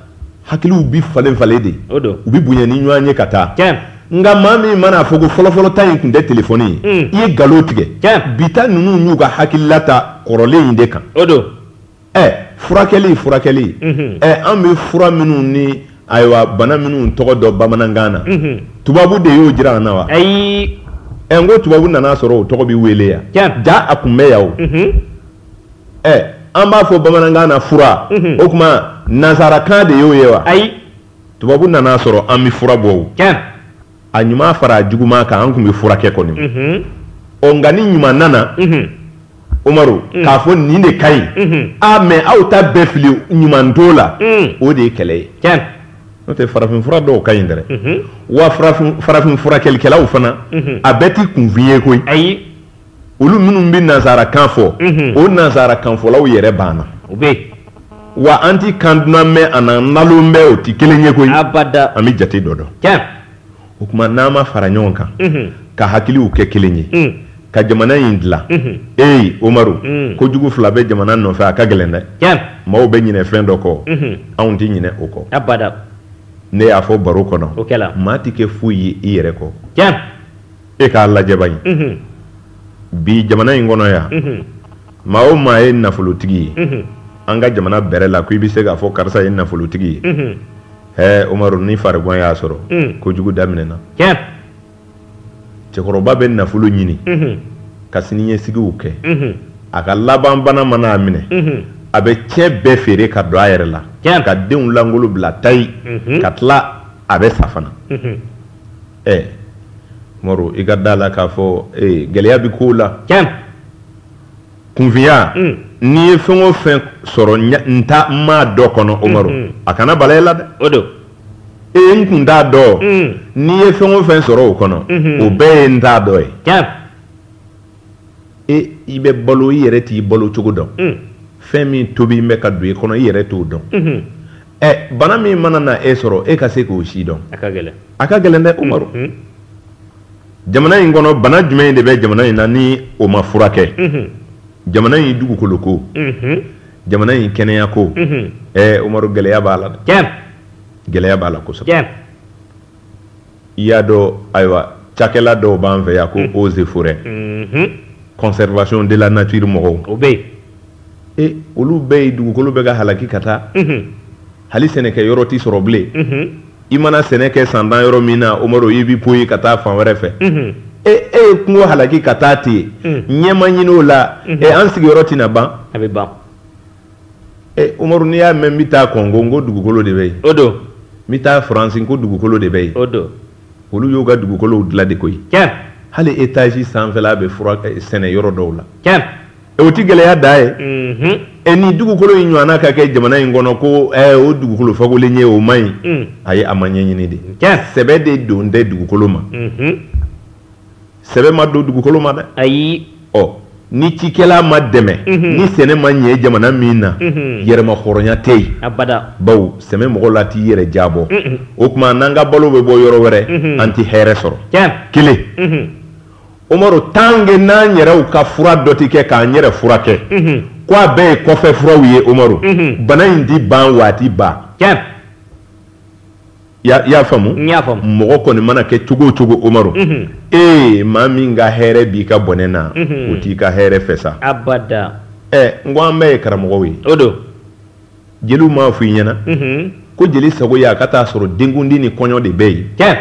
hakiliw bi falen falen de o don u bi bonya ni ɲɔgɔn ye ka taa tiɲɛ nka maa min mana a fɔ ko fɔlɔfɔlɔ ta in kun tɛ telefɔni ye hmm. i ye galon tigɛ tiɲɛ bi ta ninnu y'u ka hakilila ta kɔrɔlen in de kan o don ɛ furakɛli furakɛli mhm. ɛ an bɛ fura minnu ni Ayiwa bana minnu tɔgɔ dɔn bamanankan na tubabu de y'o jira an na wa ayi ɛ n ko tubabu nana sɔrɔ o tɔgɔ bɛ wele yan ja a kun bɛ yan o ɛ an b'a fɔ bamanankan na fura o tuma nansarakan de y'o ye wa ayi tubabu nana sɔrɔ an bɛ fura bɔ a ɲuman fara a juguman kan an kun bɛ furakɛ kɔni ɔ nka ni ɲuman nana umaru k'a fɔ nin de ka ɲi a mɛ aw ta bɛɛ fili ɲuman t'o la o de ye kɛlɛ ye n'o tɛ farafin fura dɔw ka ɲi dɛ wa farafin furakɛlikɛlaw fana a bɛɛ ti kunfin ye koyi ayi olu minnu bɛ nansarakan fɔ o nansarakanfɔlaw yɛrɛ b'an na u bɛ wa an tɛ kan dunan mɛn a n'an nalon bɛ o tɛ kelen ye koyi abada an bɛ jate dɔ dɔn o tuma n'an ma fara ɲɔgɔn kan ka hakiliw kɛ kelen ye ka jamana in dilan ee omaru kojugu fila bɛ jamana nɔfɛ a ka gɛlɛn dɛ maaw bɛ ɲinɛ fɛn dɔ kɔ anw tɛ ɲinɛ o kɔ abada ne y'a fɔ baro kɔnɔ o maa tɛ kɛ foyi ye i yɛrɛ kɔ e k'a lajɛ bani bi jamana in kɔnɔ yan maa o maa ye nafolotigi ye an ka jamana bɛrɛ la ko i bɛ se k'a fɔ karisa ye nafolotigi ye ɛɛ umaru ni farigan y'a sɔrɔ kojugu daminɛna cɛkɔrɔba bɛ nafolo ɲini ka siniɲɛsigiw kɛ a ka laban bana mana a minɛ a bɛ cɛ bɛɛ feere ka don a yɛrɛ la ka denw lankolon bila tayi ka tila a bɛ sa fana ɛ umaru i ka da a la k'a fɔ ee, gɛlɛya bɛ kow la tiɲɛ kunfinya mm. n'i ye fɛn o fɛn sɔrɔ n t'a n m'a dɔn kɔnɔ umaru mm-hmm. a kana bala i la dɛ o don ee n kun t'a dɔn mm. n'i ye fɛn o fɛn sɔrɔ o kɔnɔ mm-hmm. o bɛɛ ye n t'a dɔn ye tiɲɛ e i bɛ balo i yɛrɛ t'i balo cogo dɔn mm. fɛn min tobilen bɛ ka don i kɔnɔ i yɛrɛ t'o dɔn mm-hmm. ɛ bana min mana na e sɔrɔ e ka se k'o sidɔn a ka gɛlɛn a ka gɛlɛn dɛ umaru mm-hmm. jamana in kɔnɔ bana juguman in de bɛ jamana in na ni o ma furakɛ mm-hmm. jamana in dugukolo ko mm-hmm. jamana in kɛnɛya ko ɛ umaru gɛlɛya b'a la dɛ gɛlɛya b'a la kosɛbɛ y'a dɔn ayiwa cakɛla dɔw b'an fɛ yan ko eaux et forêts conservation de la nature mɔgɔw o bɛ yen olu bɛ yen dugukolo bɛ ka halaki ka taa hali sɛnɛkɛ yɔrɔ tɛ sɔrɔ bilen i mana sɛnɛ kɛ san tan yɔrɔ min na umaru i bɛ bɔ yen ka taa fan wɛrɛ fɛ e e ye kungo halaki ka taa ten ɲɛ ma ɲini o la e an sigiyɔrɔ tɛna ban a bɛ ban Umaru n'i y'a mɛn n bɛ taa kɔngo n ko dugukolo de bɛ yen o don n bɛ taa faransi n ko dugukolo de bɛ yen o don olu y'u ka dugukolow dilan de koyi hali étage sanfɛla bɛ sɛnɛ yɔrɔ dɔw la o tɛ gɛlɛya da ye ɛ ni dugukolo in ɲɔgɔnna ka kɛ jamana in kɔnɔ ko o dugukolo fakolen ye o man ɲi ayi a ma ɲɛɲini de sɛbɛ de don tɛ dugukolo ma sɛbɛ ma don dugukolo ma dɛ ayi ɔ ni cikɛla ma dɛmɛ ni sɛnɛ ma ɲɛ jamana min na yɛrɛmahɔrɔnya tɛ yen abada bawo sɛmɛ mɔgɔ la t'i yɛrɛ jabɔ o tuma n'an ka balo bɛ bɔ yɔrɔ wɛrɛ an tɛ hɛrɛ sɔrɔ tiɲɛ kelen Umaru tant que n'an yɛrɛw ka fura dɔ tɛ kɛ k'an yɛrɛ furakɛ ko a bɛɛ ye kɔfɛ furaw ye Umaru bana in tɛ ban wa a tɛ ban tiɲɛ y'a faamu mɔgɔ kɔni mana kɛ cogo cogo omaru ee maa min ka hɛrɛ b'i ka bɔnɛ na o t'i ka hɛrɛ fɛ sa n ko an bɛɛ ye karamɔgɔw ye o don jeliw m'a f'i ɲɛna ko jeli sago ye a ka t'a sɔrɔ denkundi ni kɔɲɔ de bɛ yen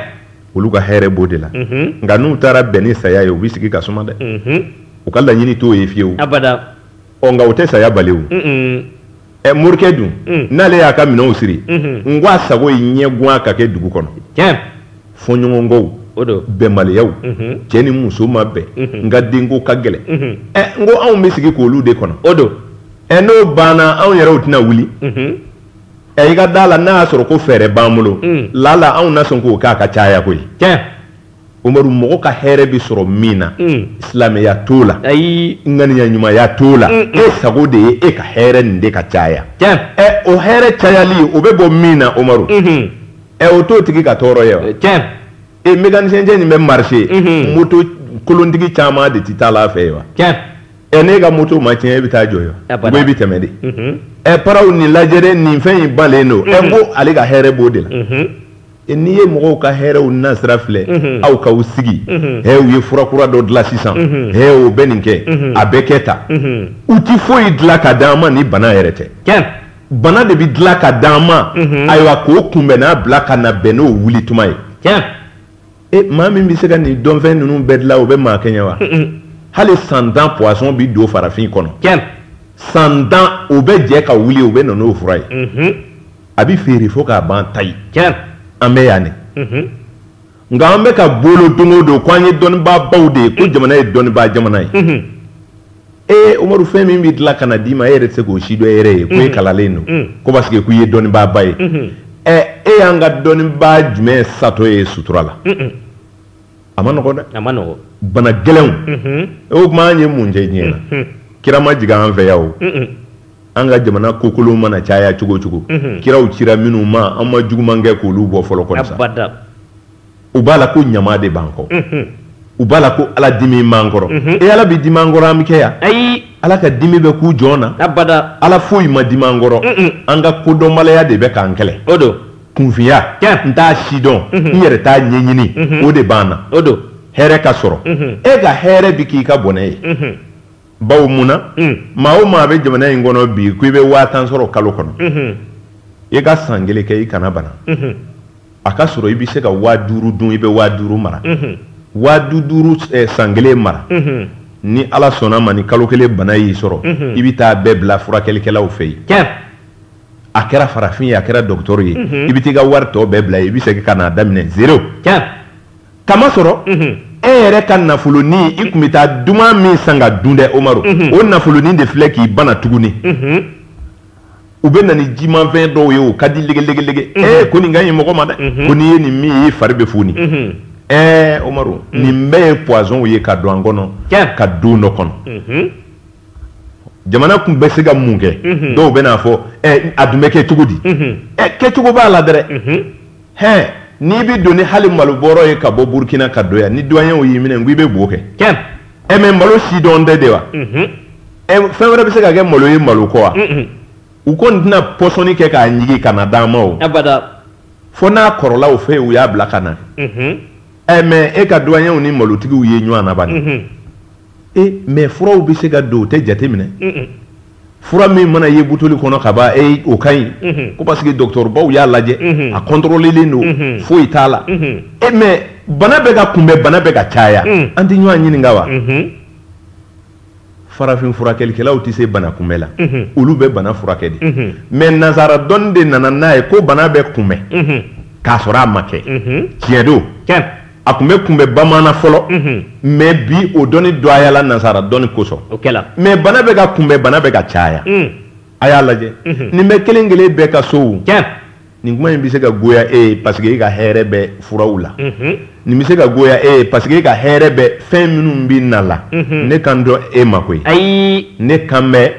olu ka hɛrɛ b'o de la nka n'u taara bɛn ni saya ye u bɛ sigi ka suma dɛ u ka laɲini t'o ye fiyewu ɔ nka u tɛ saya bali ɛ morikɛ dun mm. n'ale y'a ka minɛnw siri mm-hmm. n ko a sago ye ɲɛgwan ka kɛ dugu kɔnɔ tiɲɛ fɔɲɔgɔnkɔw bɛnbaliyaw mm-hmm. cɛ ni muso ma bɛn mm-hmm. n ka denko ka gɛlɛn ɛ n ko anw bɛ sigi k'olu de kɔnɔ o don ɛ n'o banna anw yɛrɛw tɛna wuli ɛ i ka da la n'a y'a sɔrɔ ko fɛɛrɛ b'an bolo mm. lala anw na sɔn k'o kɛ a ka caya koyi tiɲɛ Umaru mɔgɔ ka hɛrɛ bɛ sɔrɔ min na silamɛya t'o la ayi ŋaniya ɲumanya t'o la e sago de ye e ka hɛrɛ nin de ka caya o hɛrɛ cayali o bɛ bɔ min na Umaru ɛ o t'o tigi ka tɔɔrɔ ye wa e mécanicien nin bɛ marcher moto kolontigi caman de tɛ taa ale fɛ yen wa ɛ n'e ka moto ma tiɲɛ e bɛ taa jɔ yen wa ou bien e bɛ tɛmɛ de ɛ paraw nin lajɛ dɛ nin fɛn in balen don ɛ n ko ale ka hɛrɛ b'o de la. E, n'i ye mɔgɔw ka hɛrɛw nasira filɛ mhm. aw k'aw sigi mhm. ɛ u ye fura kura dɔ dilan sisan mhm. ɛ o bɛ nin kɛ a bɛ kɛ tan u tɛ foyi dilan ka d'an ma ni bana yɛrɛ tɛ bana de bɛ dilan ka d'an ma ayiwa k'o kunbɛnnan bila ka na bɛn n'o wuli tuma ye e maa min bɛ se ka nin dɔnfɛn ninnu bɛɛ dilan o bɛ maa kɛɲɛ wa hali san tan poison bɛ don farafin kɔnɔ san tan o bɛ jɛ ka wuli o bɛ na n'o fura ye. a bɛ feere fo k'a ban tayi an bɛ yan nin nka an bɛ ka bolo don o don ko an ye dɔnnibaa baw de ye ko jamana ye dɔnnibaa jamana ye ee Umaru fɛn min bɛ dilan ka na d'i ma e yɛrɛ tɛ se k'o si dɔn e yɛrɛ ye ko e kalannen don ko parce que k'u ye dɔnnibaaba ye ɛ e y'an ka dɔnnibaa jumɛn satɔ ye sutura la a ma nɔgɔ dɛ a ma nɔgɔ bana gɛlɛnw o tuma an ye mun kɛ diɲɛ na kira ma jigin an fɛ yan o an ka jamana kokolon mana caya cogo cogo kiraw cira minnu ma an ma juguman kɛ k'olu bɔ fɔlɔ kɔni sa u b'a la ko ɲama de b'an kɔ u b'a la ko ala dimina an kɔrɔ e ala bɛ dimi an kɔrɔ an bɛ kɛ yan ayi ala ka dimi bɛ kun jɔn na abada ala foyi ma dimi an kɔrɔ an ka kodɔnbaliya de bɛ k'an kɛlɛ o don kunfinya tiɲɛ n t'a si dɔn mhm. n yɛrɛ t'a ɲɛɲini mhm. o de b'an na o don hɛrɛ ka sɔrɔ mhm. e ka hɛrɛ bi k'i ka bɔnɛ ye bawo mun na mm. maa o maa bɛ jamana in kɔnɔ bi ko i bɛ waa tan sɔrɔ kalo kɔnɔ i ka san kelen kɛ i kana bana a ka sɔrɔ i bɛ se ka waa duuru dun i bɛ waa duuru mara waa du duuru eh, san kelen mara ni ala sɔnna ma ni kalo kelen bana y'i sɔrɔ i bɛ taa bɛɛ bila furakɛlikɛlaw fɛ yen a kɛra farafin ye a kɛra dɔgɔtɔrɔ ye mhm. i bɛ t'i ka wari tɔ bɛɛ bila i bɛ segin ka n'a daminɛ zero k'a masɔrɔ mhm. e yɛrɛ ka nafolonin i tun bɛ taa duman min san ka dun dɛ Umaru mhm. o nafolonin de filɛ k'i bana tuguni u bɛ na ni jimanfɛn dɔw ye o ka di legelege ee ko nin ka ɲi mɔgɔ ma dɛ ko n'i ye nin min ye i fari bɛ foni ɛɛ Umaru nin bɛɛ ye poisonw ye ka don an kɔnɔ ka don dɔ kɔnɔ. jamana tun bɛ se ka mun kɛ mhm. dɔw bɛn'a fɔ eh, a dun bɛ kɛ cogo di mhm. eh, kɛcogo b'a la dɛrɛ mhm. hɛn n'i bɛ don ni hali malobɔrɔ ye ka bɔ burukina ka don yan ni duwaɲɛw y'i minɛ ko i bɛ bo kɛ ɛ eh, mɛ malo si dɔn tɛ de wa fɛn wɛrɛ bɛ se ka kɛ malo ye malo kɔ wa u kɔni tɛna pɔsɔni kɛ k'a ɲigi ka na d'an ma o fo n'a kɔrɔla u fɛ u y'a bila ka na ɛ mɛ e ka duwaɲɛw ni malotigiw ye ɲɔgɔn na bani e mais furaw bɛ se ka don o tɛ jate minɛ fura min mana ye butoli kɔnɔ ka ban e o ka ɲi ko parce que dɔgɔtɔrɔbaw y'a lajɛ a kɔntɔrɔlilen don foyi t'a la e mais bana bɛ ka kunbɛn bana bɛ ka caya an tɛ ɲɔgɔn ɲininka wa farafin furakɛlikɛlaw tɛ se bana kunbɛn la olu bɛ bana furakɛ de mais nazara dɔnni de nana n'a ye ko bana bɛ kunbɛn k'a sɔrɔ a ma kɛ tiɲɛ don a tun bɛ kunbɛn bamanan fɔlɔ mais bi o dɔnni dɔgɔyala nasara dɔnni kosɔn mais bana bɛ ka kunbɛn bana bɛ ka caya a y'a lajɛ nin bɛ kelen kelen bɛɛ ka sow nin kuma in bɛ se ka goya e ye parce que e ka hɛrɛ bɛ furaw la nin bɛ se ka goya e ye parce que e ka hɛrɛ bɛ fɛn minnu bɛ na la ne kan dɔn e ma koyi ayi ne kan bɛ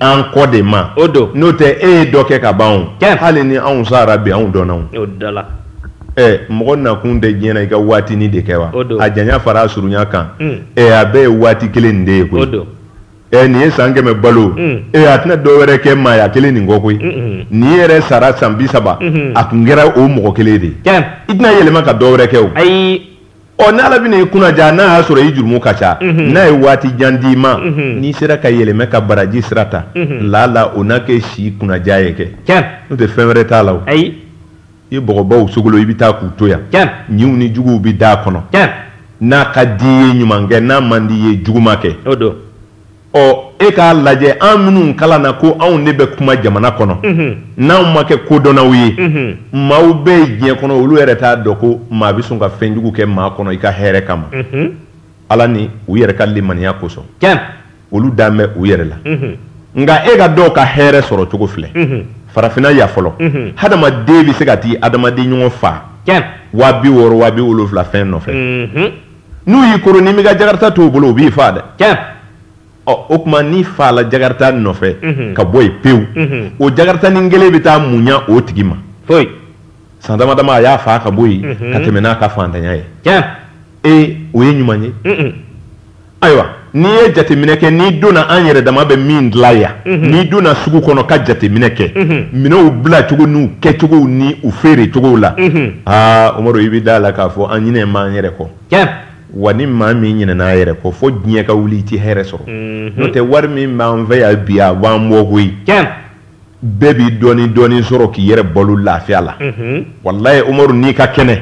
an kɔ de ma o don n'o tɛ e ye dɔ kɛ ka ban hali ni anw sara bi anw dɔn ɛ mɔgɔ nakun tɛ diɲɛ na i ka waatinin de kɛ wa a janya fara a surunya kan hmm. ɛ a bɛɛ ye waati kelen nin de ye koyi ɛ nin ye san kɛmɛ balo hmm. ɛ a tɛna dɔ wɛrɛ kɛ maaya kelen nin kɔ koyi hmm. nin yɛrɛ sara san bi saba a tun kɛra o mɔgɔ kelen de ye i tɛna yɛlɛma ka dɔ wɛrɛ kɛ o ɔ n'ala bɛna i kunnaja n'a y'a sɔrɔ i jurumu ka ca n'a ye waati jan d'i ma n'i sera ka yɛlɛmɛ ka baraji sira ta lala o na kɛ si kunnaja ye kɛ n'o tɛ fɛn wɛrɛ t'a la o i ye bɔgɔbaw sogolon i bɛ taa k'u to yan ɲiw ni juguw bɛ da a kɔnɔ n'a ka d'i ye ɲuman kɛ n'a man d'i ye juguman kɛ o don ɔ e k'a lajɛ an minnu kalanna ko anw de bɛ kuma jamana kɔnɔ n'anw ma kɛ kodɔnnaw ye maaw bɛ yen diɲɛ kɔnɔ olu yɛrɛ t'a dɔn ko maa bɛ sɔn ka fɛn jugu kɛ maa kɔnɔ i ka hɛrɛ kama ala ni u yɛrɛ ka limaniya kosɔn olu dan bɛ u yɛrɛ la nka e ka dɔw ka hɛrɛ sɔrɔ cogo filɛ farafinna yan fɔlɔ hadamaden bɛ se ka t'i hadamaden ɲɔgɔn faa waa bi wɔɔrɔ waa wolowula fɛn nɔfɛ n'u y'i koron n'i m'i ka jakarata t'u bolo u b'i faa dɛ ɔ o tuma n'i faala jakarata nɔfɛ ka bɔ yen pewu o jakarata nin kelen bɛ taa mun ɲa o tigi ma san damadama a y'a faa ka bɔ yen ka tɛmɛ n'a ka faantanya ye ee o ye ɲuman ye ayiwa n'i ye jateminɛ kɛ n'i donna an yɛrɛ dama bɛ min dilan yan mhm. n'i donna sugu kɔnɔ ka jateminɛ kɛ mhm. minɛnw bilacogo n'u kɛcogow ni u feere cogow la mhm. aa Umaru i bɛ da a la k'a fɔ an ɲinɛn'an yɛrɛ kɔ wa ni maa min ɲinɛna a yɛrɛ kɔ fo diɲɛ ka wuli i tɛ hɛrɛ sɔrɔ n'o tɛ wari min b'an fɛ yan bi a b'an bɔ koyi bɛɛ b'i dɔɔnin dɔɔnin sɔrɔ k'i yɛrɛ balo lafiya la walayi Umaru n'i ka kɛnɛ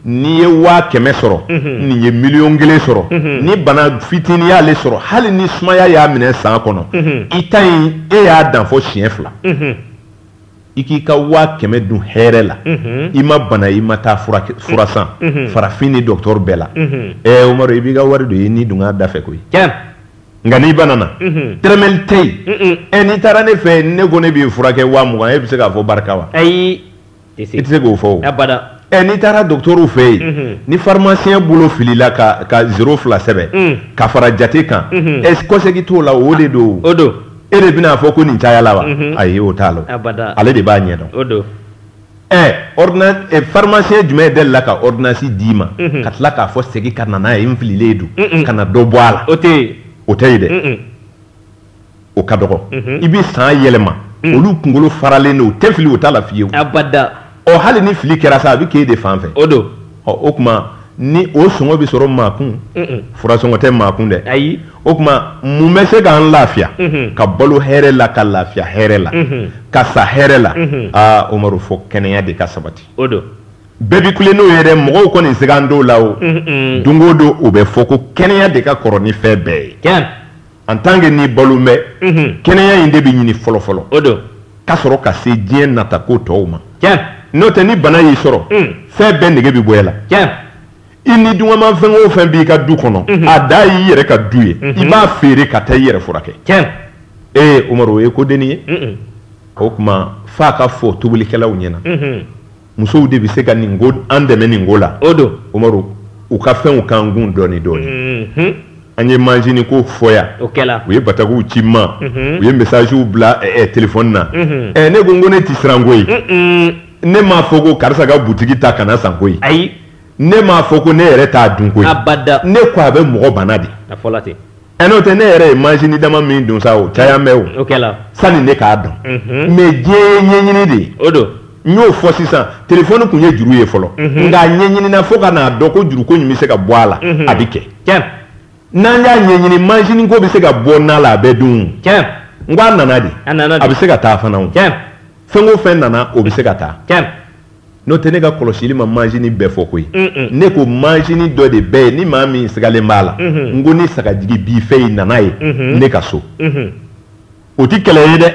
n'i ye waa kɛmɛ sɔrɔ nin ye miliyɔn kelen sɔrɔ ni bana fitinin y'ale sɔrɔ hali ni sumaya y'a minɛ san kɔnɔ i ta in e y'a dan fɔ siɲɛ fila i k'i ka waa kɛmɛ dun hɛrɛ la i ma bana i ma taa fura san farafin ni dɔgɔtɔrɔ bɛɛ la ɛ Umaru i b'i ka wari dun i ni dungɔ da fɛ koyi nka n'i banana tɛrɛmɛli tɛ yen ɛ n'i taara ne fɛ ne ko ne b'i furakɛ waa mugan e bɛ se k'a fɔ barika wa ayi i tɛ se k'o fɔ ɛ n'i taara dɔgɔtɔrɔw fɛ yen ni farimasiyɛn bolo filila ka zero fila sɛbɛn ka fara jate kan e kɔsegin t'o la o de don o don e de bɛna a fɔ ko nin cayala wa ayi o t'a la ale de b'a ɲɛdɔn ɛ farimasiyɛn jumɛn delila ka ɔridinansi d'i ma ka tila k'a fɔ segin ka na n'a ye n fililen don ka na dɔ bɔ a la o tɛ o tɛ yen dɛ o ka dɔgɔ i bɛ san yɛlɛma olu kunkolo faralen don u tɛ fili o t'a la fiyewu abada ɔ hali ni fili kɛra sa a bɛ k'e de fan fɛ o don ɔ o tuma ɲɔ sɔngɔ bɛ sɔrɔ maa kun fura sɔngɔ tɛ maa kun dɛ ayi o tuma mun bɛ se k'an lafiya ka balo hɛrɛ la ka lafiya hɛrɛ la ka sa hɛrɛ la aa Umaru fɔ kɛnɛya de ka sabati o don bɛɛ bɛ kule n'o ye dɛ mɔgɔw kɔni si kan dɔw la o don o don o bɛ fɔ ko kɛnɛya de ka kɔrɔ ni fɛn bɛɛ ye en tant que n'i balo bɛ kɛnɛya in de bɛ ɲini fɔlɔ fɔlɔ o don ka sɔrɔ ka se diɲɛ nata ko tɔw ma n'o tɛ ni bana y'i sɔrɔ fɛn bɛɛ nege bɛ bɔ i la i ni dungɔma fɛn o fɛn b'i ka du kɔnɔ a da y'i yɛrɛ ka du ye i b'a feere ka taa i yɛrɛ furakɛ tiɲɛ ee Umaru o ye ko dennin ye o tuma f'a ka fɔ tobilikɛlaw ɲɛna musow de bɛ se ka nin ko an dɛmɛ nin ko la o don Umaru u ka fɛnw k'an kun dɔɔni dɔɔni mhm. an ye manzini ko fɔ yan o kɛla u ye batakiw ci n ma mhm. u ye messagew bila eh, eh, telefɔni na mhm. eh, ne ko n ko ne tɛ siran koyi ne m'a fɔ ko karisa ka butigi ta kana san koyi ayi ne m'a fɔ ko ne yɛrɛ t'a dun koyi abada ne ko a bɛ mɔgɔ bana de a fɔla ten ɛ n'o tɛ ne yɛrɛ ye manzini dama min dun sa o caya mɛ o o kɛla sani ne k'a dɔn Mhm. mais diɲɛ ye ɲɛɲini de ye o don n y'o fɔ sisan telefɔni tun ye juru ye fɔlɔ Mhm. nka a ɲɛɲinina fo ka n'a dɔn ko juruko in bɛ se ka bɔ a la Mhm. a bɛ kɛ tiɲɛ n'an y'a ɲɛɲini manzini ko bɛ se ka bɔ na la a bɛ dun tiɲɛ n ko a nana de a nana a bɛ se ka taa fana o tiɲɛ fɛn o fɛn nana o bɛ se ka taa tiɲɛ n'o tɛ ne ka kɔlɔsili ma manzini bɛɛ fɔ koyi ne ko manzini dɔ de bɛ yen ni maa min sigalen b'a la n ko ni sagajigi b'i fɛ yen na n'a ye ne ka so o tɛ kɛlɛ ye dɛ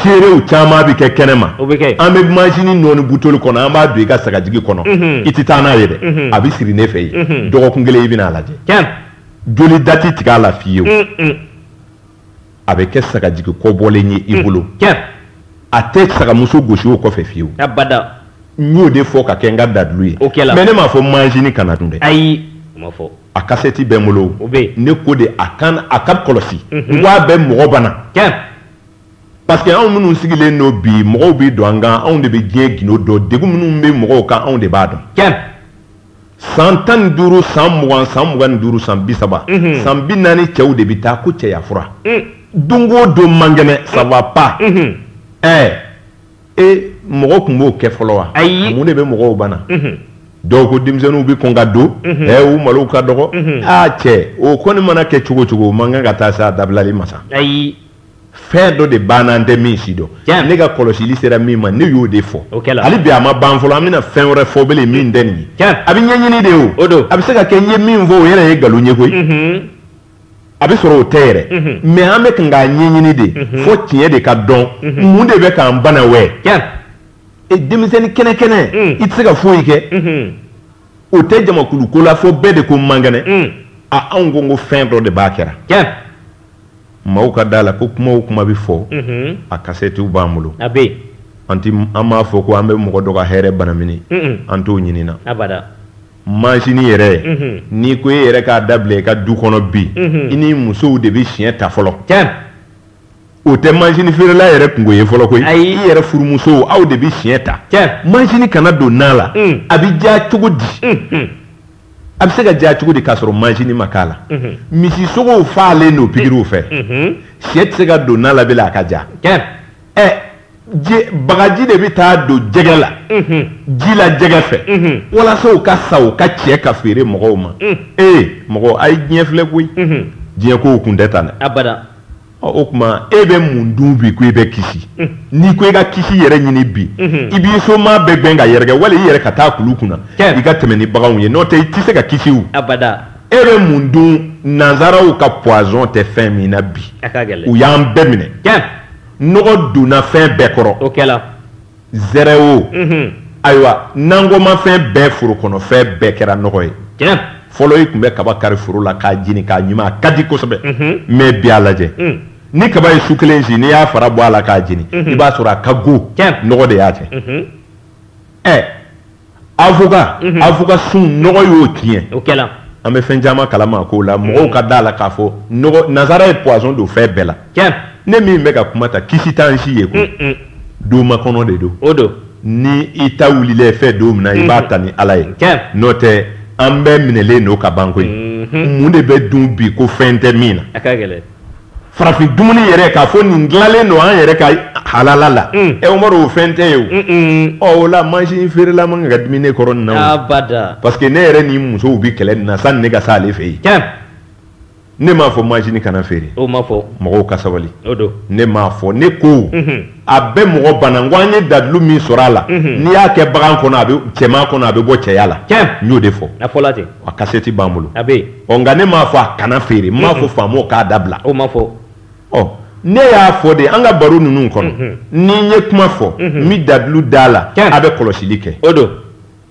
seerew caman bɛ kɛ kɛnɛ ma an bɛ manzini nɔɔni butoli kɔnɔ an b'a don i ka sagajigi kɔnɔ i tɛ taa n'a ye dɛ a bɛ siri ne fɛ yen dɔgɔkun kelen i bɛna a lajɛ joli da tɛ tigɛ a la fiyewu a bɛ kɛ sagajigi kɔbɔlen ye i bolo a tɛ sagamuso gosi o kɔfɛ fiyewu n y'o de fɔ ka kɛ n ka dalilu ye mais ne m'a fɔ manzini kana dun dɛ ayi a kasɛti bɛ n bolo ne ko de a kan a ka kɔlɔsi n k'a bɛ mɔgɔ bana parce que anw minnu sigilen don bi mɔgɔw bɛ don an kan anw de bɛ diɲɛ gindo dɔn degun minnu bɛ mɔgɔw kan anw de b'a dɔn san tan ni duuru san mugan san mugan ni duuru san bi saba mhm. san bi naani cɛw de bɛ taa ko cɛya fura mm. don o don man kɛnɛ mm. ça va pas mhm. ɛɛ e mɔgɔ tun b'o kɛ fɔlɔ wa ayi mun de bɛ mɔgɔw bana mhm. dɔw ko denmisɛnninw bɛ kɔn ka don ɛɛ u malow ka dɔgɔ aa cɛ o kɔni mana kɛ cogo cogo o man kan ka taa se a dabilali ma sa ayi fɛn dɔ de b'an na an tɛ min si dɔn ne ka kɔlɔsili sera min ma ne y'o de fɔ hali bi a ma ban fɔlɔ an bɛna fɛn wɛrɛ fɔ bele min tɛ nin ye a bɛ ɲɛɲini de o a bɛ se ka kɛ n ye min fɔ o yɛrɛ ye nkalon ye koyi mhm. a bɛ sɔrɔ o tɛ yɛrɛ mhm. mais an bɛ kan k'a ɲɛɲini de mhm. fo tiɲɛ de ka dɔn mun de bɛ k'an bana wɛ e denmisɛnnin kɛnɛkɛnɛ mm. i tɛ se ka foyi kɛ o tɛ jamakulu ko la fo bɛɛ de ko man kɛnɛ mm. a anw ko n ko fɛn dɔ de b'a kɛra maaw ka da la ko kuma o kuma bɛ fɔ a kasɛtiw b'an bolo a bɛ an an b'a fɔ ko an bɛ mɔgɔ dɔ ka hɛrɛ banamini an t'o ɲinina manzini yɛrɛ n'i ko e yɛrɛ k'a dabila i ka du kɔnɔ bi i ni musow de bɛ siɲɛ ta fɔlɔ o tɛ manzini feerela yɛrɛ kunko ye fɔlɔ koyi i yɛrɛ furumusow aw de bɛ siɲɛ ta manzini kana don na la a bɛ diya cogo di a bɛ se ka diya cogo di k'a sɔrɔ manzini ma k'a la mhm. misisogow falen don pikiriw fɛ mhm. Mhm. sɛ tɛ se ka don na la bilen a ka ja ɛ bagaji de bɛ taa don jɛgɛ la ji la jɛgɛ fɛ walasa u ka sa u ka cɛ ka feere mɔgɔw ma ee mɔgɔ a ye diɲɛ filɛ koyi diɲɛ kow kun tɛ tan dɛ O tuma e bɛ mun dun bi ko i bɛ kisi n'i ko i ka kisi yɛrɛ ɲini bi i b'i somaa bɛɛ gɛn ka yɛrɛkɛ wali i yɛrɛ ka taa kulu kunna i ka tɛmɛ ni baganw ye n'o tɛ i tɛ se ka kisi abada e bɛ mun dun nazaraw ka poison tɛ fɛn min na bi u y'an bɛɛ minɛ nɔgɔ donna fɛn bɛɛ kɔrɔ o zɛrɛ o ayiwa nankɔmafɛn bɛɛ foro kɔnɔfɛn bɛɛ kɛra nɔgɔ ye fɔlɔ i tun bɛ kaba kari foro la k'a jeni k'a ɲuman a ka di kosɛbɛ mais bi a lajɛ ni kaba ye su kelen si n'i y'a fara bɔ a la k'a jeni i b'a sɔrɔ a ka go nɔgɔ de y'a kɛ ɛ avocat mhm. avocat sun nɔgɔ y'o tiɲɛ o kɛla an bɛ fɛn caman kalama k'o la mɔgɔw ka da la k'a fɔ nɔgɔ nazara ye poison don fɛn bɛɛ la tiɲɛ ne min bɛ ka kuma ta kisi t'an si ye koyi mm, mm. don makɔnɔ de don o don ni i ta wulilen fɛn don min na i b'a mhm. ta ni ala ye tiɲɛ n'o tɛ an bɛɛ minɛlen don ka ban koyi mhm. mun de bɛ dun bi ko fɛn tɛ min na a ka gɛlɛn farafin dumuni yɛrɛ k'a fɔ nin dilanlen don an yɛrɛ ka halala la mm. ɛ umaru o fɛn tɛ ye o ɔ o la majini feerela man kan ka dimi ne kɔrɔ nin na o abada parce que ne yɛrɛ ni musow bi kɛlɛ nin na sanni ne ka se ale fɛ yen tiɲɛ ne m'a fɔ majini kana feere o ma fɔ mɔgɔw ka sabali o don ne m'a fɔ ne ko mhm. a bɛ mɔgɔ bana n ko an ye dalilu min sɔrɔ a la mhm. n'i y'a kɛ bagan kɔnɔ a bɛ cɛman kɔnɔ a bɛ bɔ cɛya la tiɲɛ n y'o de fɔ a fɔla ten a kasɛti b'an bolo a bɛ yen ɔ nka ne m'a fɔ a kana feere n m'a fɔ faamaw k'a dabila o ma fɔ ɔ ne y'a fɔ de an ka baro ninnu kɔnɔ mhm. ni n ye kuma fɔ mhm. n bɛ dalilu d'a la a bɛ kɔlɔsili kɛ o don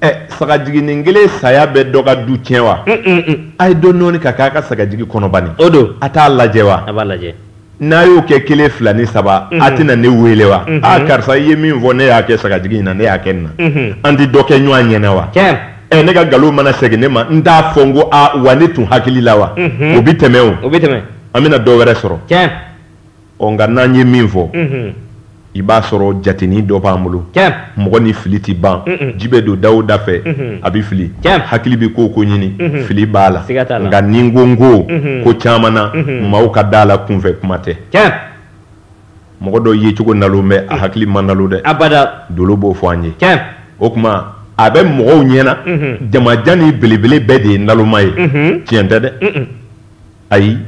ɛ sagajiginin kelen saya bɛ dɔ ka du tiɲɛ wa a ye dɔ nɔɔni ka k'a ka sagajigi kɔnɔ bani o don a t'a lajɛ wa a b'a lajɛ n'a y'o kɛ kelen fila ni saba a tɛna ne wele wa aa karisa i ye min fɔ ne y'a kɛ sagajigi in na ne y'a kɛ nin na an tɛ dɔ kɛ ɲɔgɔn ɲɛna wa ɛ ne ka nkalon mana segin ne ma n t'a fɔ n ko a wa ne tun hakili la wa o bɛ tɛmɛ o bɛ tɛmɛ an bɛna dɔ wɛrɛ sɔrɔ ɔ nka n'an ye min fɔ i b'a sɔrɔ jatenin dɔ b'an bolo mɔgɔ ni fili tɛ ban ji bɛ don da o da fɛ a bɛ fili hakili bɛ ko o ko ɲini fili b'a la nka ni n ko n ko ko caman na maaw ka da la kunfɛ kuma tɛ mɔgɔ dɔ yecogo nalon bɛ a hakili ma nalo dɛ abada dolo b'o fɔ an ye o tuma a bɛ mɔgɔw ɲɛna jamajan ni belebele bɛɛ de ye naloma ye tiɲɛ tɛ dɛ ayi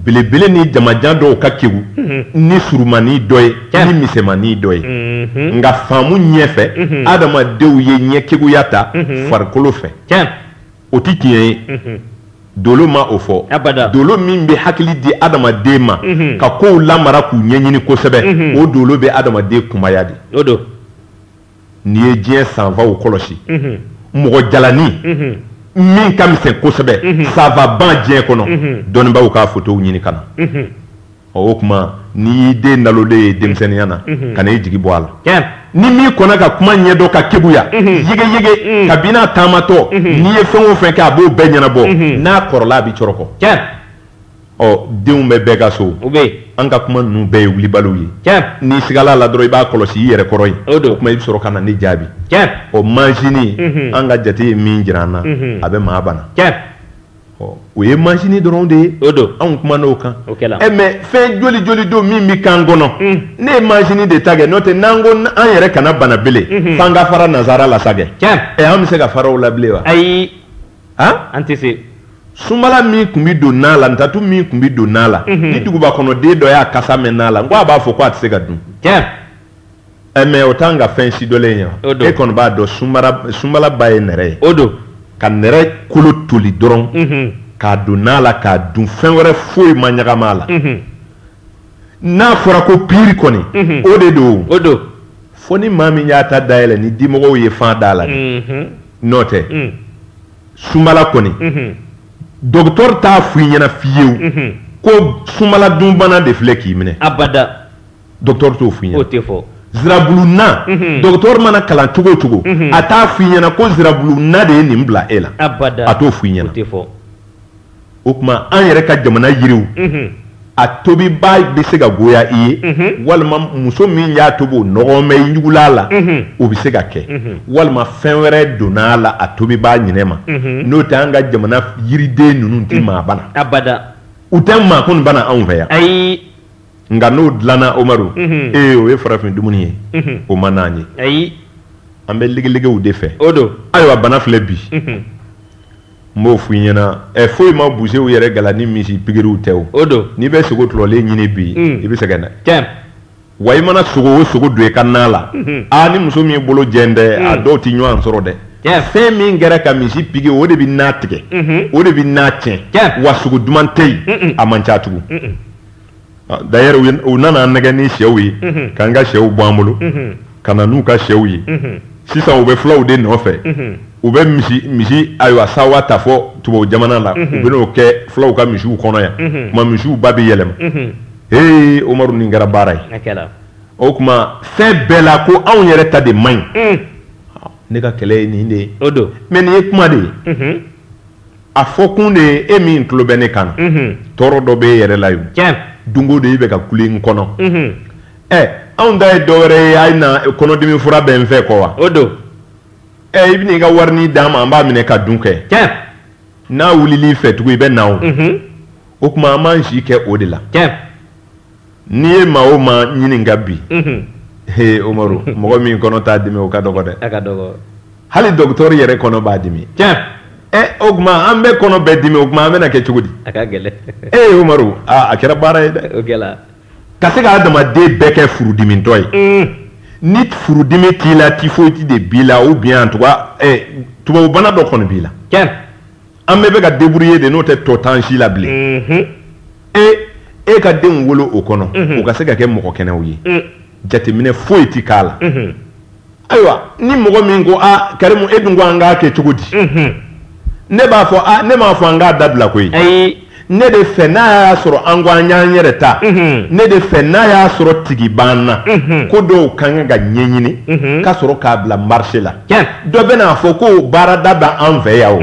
belebele ni jamajan dɔw ka kegu ni surumani dɔ ye ni misɛmani dɔ ye nka faamu ɲɛfɛ adamadenw ye ɲɛkeguya ta farikolo fɛ o tɛ tiɲɛ ye dolo ma o fɔ dolo min bɛ hakili di adamaden ma ka kow lamara k'u ɲɛɲini kosɛbɛ o dolo bɛ adamaden kunbaya de n'i ye diɲɛ savantw kɔlɔsi mɔgɔ jalanin min ka misɛn kosɛbɛ savantba diɲɛ kɔnɔ dɔnnibaaw k'a fotow ɲini ka na o tuma n'i y'i den nalolen ye denmisɛnninya na kan'i jigi bɔ a la ni min kɔnna ka kuma ɲɛdɔn ka keguya yegeyege kabini a taamatɔ n'i ye fɛn o fɛn kɛ a b'o bɛɛ ɲɛnabɔ n'a kɔrɔla a bɛ cɔrɔkɔ ɔ denw bɛ bɛɛ ka so o bɛ yen an ka kuma ninnu bɛɛ ye wulibaliw ye tiɲɛ n'i sigala la dɔrɔn i b'a kɔlɔsi i yɛrɛ kɔrɔ ye o don o tuma i bɛ sɔrɔ ka na ne jaabi tiɲɛ ɔ majini mhm. an ka jate ye min jira an na mhm. a bɛ maa bana tiɲɛ ɔ o ye majini dɔrɔn de ye o don anw kuman'o kan o kɛla ɛ eh, mais fɛn joli joli don min bɛ k'an kɔnɔ mm. ne ye majini de ta kɛ n'o tɛ n'an ko an yɛrɛ kana bana bele mhm. f'an ka fara nazara la sa kɛ tiɲɛ ɛ eh, an bɛ se ka fara o la bilen wa ayi han an tɛ se sunbala min tun bɛ don na la ntatu min tun bɛ don na la mhm. ni duguba kɔnɔ den dɔ y'a kasa mɛn na la n ko a b'a fɔ ko a tɛ se ka dun tiɲɛ ɛ mais o t'an ka fɛn si dɔlen ye wa e kɔni b'a dɔn sunbala ba ye nɛrɛ ye o don ka nɛrɛ kolo toli dɔrɔn mhm. k'a don na la k'a dun fɛn wɛrɛ foyi ma ɲagama a la mhm. n'a fɔra ko piiri kɔni mhm. o de don o don fo ni maa min y'a ta dayɛlɛ ni dimɔgɔw ye fan d'a la mhm. n'o tɛ mm. sunbala kɔni mhm. docteur t'a fɔ i ɲɛna fiyewu ko sunbala dunbana de filɛ k'i minɛ abada docteur t'o fɔ i ɲɛna o tɛ fɔ zirabulu na docteur mana kalan cogo o cogo a t'a fɔ i ɲɛna ko zirabulu na de ye nin bila e la abada a t'o fɔ i ɲɛna o tɛ fɔ o tuma an yɛrɛ ka jamana yiriw a tobiba bɛ se ka goya i ye walima muso min y'a tobi o nɔgɔ bɛ ɲugula la o bɛ se ka kɛ walima fɛn wɛrɛ donna a la a tobiba ɲinɛ ma n'o tɛ an ka jamana yiriden ninnu tɛ maa bana abada u tɛ maa kɔni bana anw fɛ yan ayi nka n'o dilanna Umaru ee o ye farafin dumuni ye o man d'an ye ayi an bɛ ligiligew de fɛ o don ayiwa bana filɛ bi n b'o f'i ɲɛna ɛ eh, foyi ma busew yɛrɛ gala ni misi pikiriw tɛ o o don n'i bɛ sogo tulɔlen ɲini bi mm. i bɛ sɛgɛn dɛ tiɲɛ wa i mana sogo o sogo don i ka na la mm-hmm. a ni muso min bolo jɛn dɛ a mm. dɔw tɛ ɲɔgɔn sɔrɔ dɛ fɛn min kɛra ka misi pigi o de bɛ na tigɛ mm-hmm. o de bɛ na tiɲɛ wa sogo duman tɛ yen a man ca tugun Ah, D'ailleurs u ye- u nana an nɛgɛ ni sɛw ye Mhm. k'an ka sɛw bɔ an bolo Mhm. ka na n'u ka sɛw ye Mhm. sisan u bɛ fulaw de nɔfɛ Mhm. u bɛ misi misi ayiwa sawa ta fo tubabu jamana la Mhm. u bɛ n'o kɛ fulaw ka misiw kɔnɔ yan Mhm. tuma misiw ba bɛ yɛlɛma Mhm. ee Umaru nin kɛra baara ye A kɛra. o tuma fɛn bɛɛ la ko anw yɛrɛ ta de man ɲi Mm. ne ka kɛlɛ ye nin de ye O don. mais nin ye kuma de ye Mhm. a fɔkun de ye e min tulo bɛ ne kan na tɔɔrɔ dɔ bɛ e yɛrɛ la yen don go don e bɛ ka kule n kɔnɔ ɛ anw ta ye dɔ wɛrɛ ye a na kɔnɔdimi fura bɛ n fɛ quoi o don ɛ i bɛna i ka warini d'a ma an b'a minɛ ka dun kɛ n'a wulil'i fɛ tugun i bɛ na o tuma an b'an si kɛ o de la N'i ye maa o maa ɲininka bi, unhun, he Umaru mɔgɔ min kɔnɔ t'a dimi o ka dɔgɔ dɛ, a ka dɔgɔ, hali docteur yɛrɛ kɔnɔ b'a dimi, tiɲɛ, ɛ o tuma an bɛɛ kɔnɔ bɛ dimi o tuma an bɛna kɛ cogo di? A ka gɛlɛn, ee Umaru aa a kɛra baara ye dɛ, o kɛra, ka se ka adamaden bɛɛ kɛ furudimitɔ ye, un, ni furudimi t'i la typhoïde de b'i la ou bien en tout cas ɛ tubabubana dɔ kɔni b'i la, tiɲɛ. an bɛɛ bɛ ka débrouiller de n'o tɛ tɔ t'an si la bilen, unhun, e e ka denw wolo o kɔnɔ, unhun, u ka se ka kɛ mɔgɔ kɛnɛw ye, un, jateminɛ foyi tɛ k'a la, unhun, ayiwa ni mɔgɔ min ko a Karimu e dun ko an k'a kɛ cogo di, unhun, ne b'a fɔ a ne m'a fɔ an k'a dabila koyi, ayi. ne de fɛ n'a y'a sɔrɔ an ko an y'an yɛrɛ ta ne de fɛ n'a y'a sɔrɔ tigi b'an na ko dɔw ka kan ka ɲɛɲini ka sɔrɔ k'a bila marché la dɔ bɛ n'a fɔ ko baarada bɛ an fɛ yan o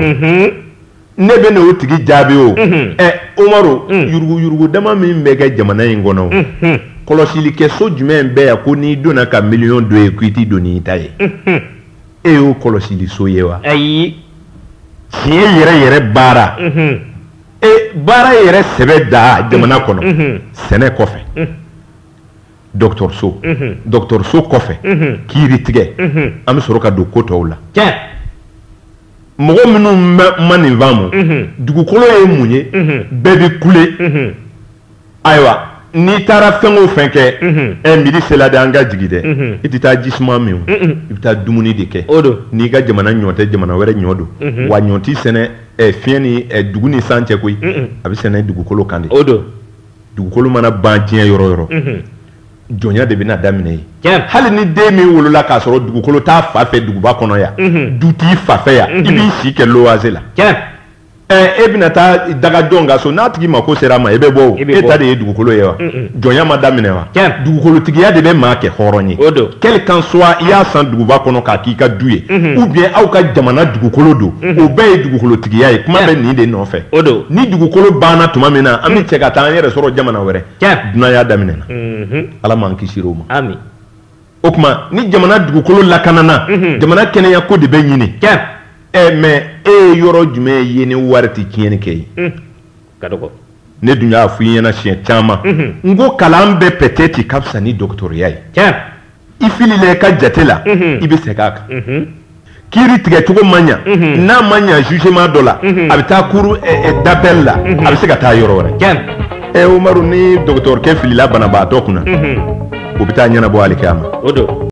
ne bɛ n'o tigi jaabi o ɛ umaru yuruguyurugu dama min bɛ kɛ jamana in kɔnɔ kɔlɔsilikɛso jumɛn bɛ yan ko n'i donna ka miliyɔn dɔ ye k'i t'i don n'i ta ye e y'o kɔlɔsiliso ye wa ayi tiɲɛ yɛrɛ yɛrɛ baara e baara yɛrɛ sɛbɛ da jamana kɔnɔ sɛnɛ kɔfɛ dɔgɔtɔrɔso dɔgɔtɔrɔso kɔfɛ kiiri tigɛ an bɛ sɔrɔ ka don ko tɔw la mɔgɔ minnu ma nin faamu dugukolo ye mun ye bɛɛ bɛ kule ayiwa n'i taara fɛn o fɛn kɛ ɛ midi sela de an ka jigin dɛ i tɛ taa ji suma min i bɛ taa dumuni de kɛ o don n'i ka jamana ɲɔ tɛ jamana wɛrɛ ɲɔ don wa ɲɔ tɛ sɛnɛ fiɲɛ ni dugu ni san cɛ koyi a bɛ sɛnɛ dugukolo kan de o don dugukolo mana ban diɲɛ yɔrɔ yɔrɔ jɔnya de bɛna daminɛ yen hali ni den min wolola k'a sɔrɔ dugukolo t'a fa fɛ duguba kɔnɔ yan du t'i fa fɛ yan i b'i si kɛ louage la e bɛna taa daga jɔn ka so n'a tigi mako sera a ma e bɛ bɔ e ta de ye dugukolo ye wa jɔnya ma daminɛ wa dugukolotigiya de bɛ maa kɛ hɔrɔn ye quel qu'en soit i y'a san duguba kɔnɔ k'a k'i ka du ye ou bien aw ka jamana dugukolo don o bɛɛ ye dugukolotigiya ye kuma bɛ nin de nɔfɛ o don ni dugukolo banna tuma min na an bɛ cɛ ka taa an yɛrɛ sɔrɔ jamana wɛrɛ dunanya daminɛna ala m'an kisi o ma o tuma ni jamana dugukolo lakanana mhm. jamana kɛnɛya ko de bɛ ɲini ɛ mais e ye yɔrɔ jumɛn ye ni wari tɛ tiɲɛni kɛ yen mhm. ka dɔgɔ ne dun y'a fɔ i ɲɛna siɲɛ caman mhm. n ko kalan bɛɛ peut-être ka fisa ni dɔgɔtɔrɔya ye i filila i ka jate la i bɛ segin a kan kiiri tigɛcogo ma ɲa mhm. n'a ma ɲa jugement dɔ la mhm. a bɛ taa cour eh, eh, d'appel la mhm. a bɛ se ka taa yɔrɔ wɛrɛ ɛ eh, umaru ni dɔgɔtɔrɔkɛ filila banabaatɔ kunna o bɛ taa ɲɛnabɔ alikiyama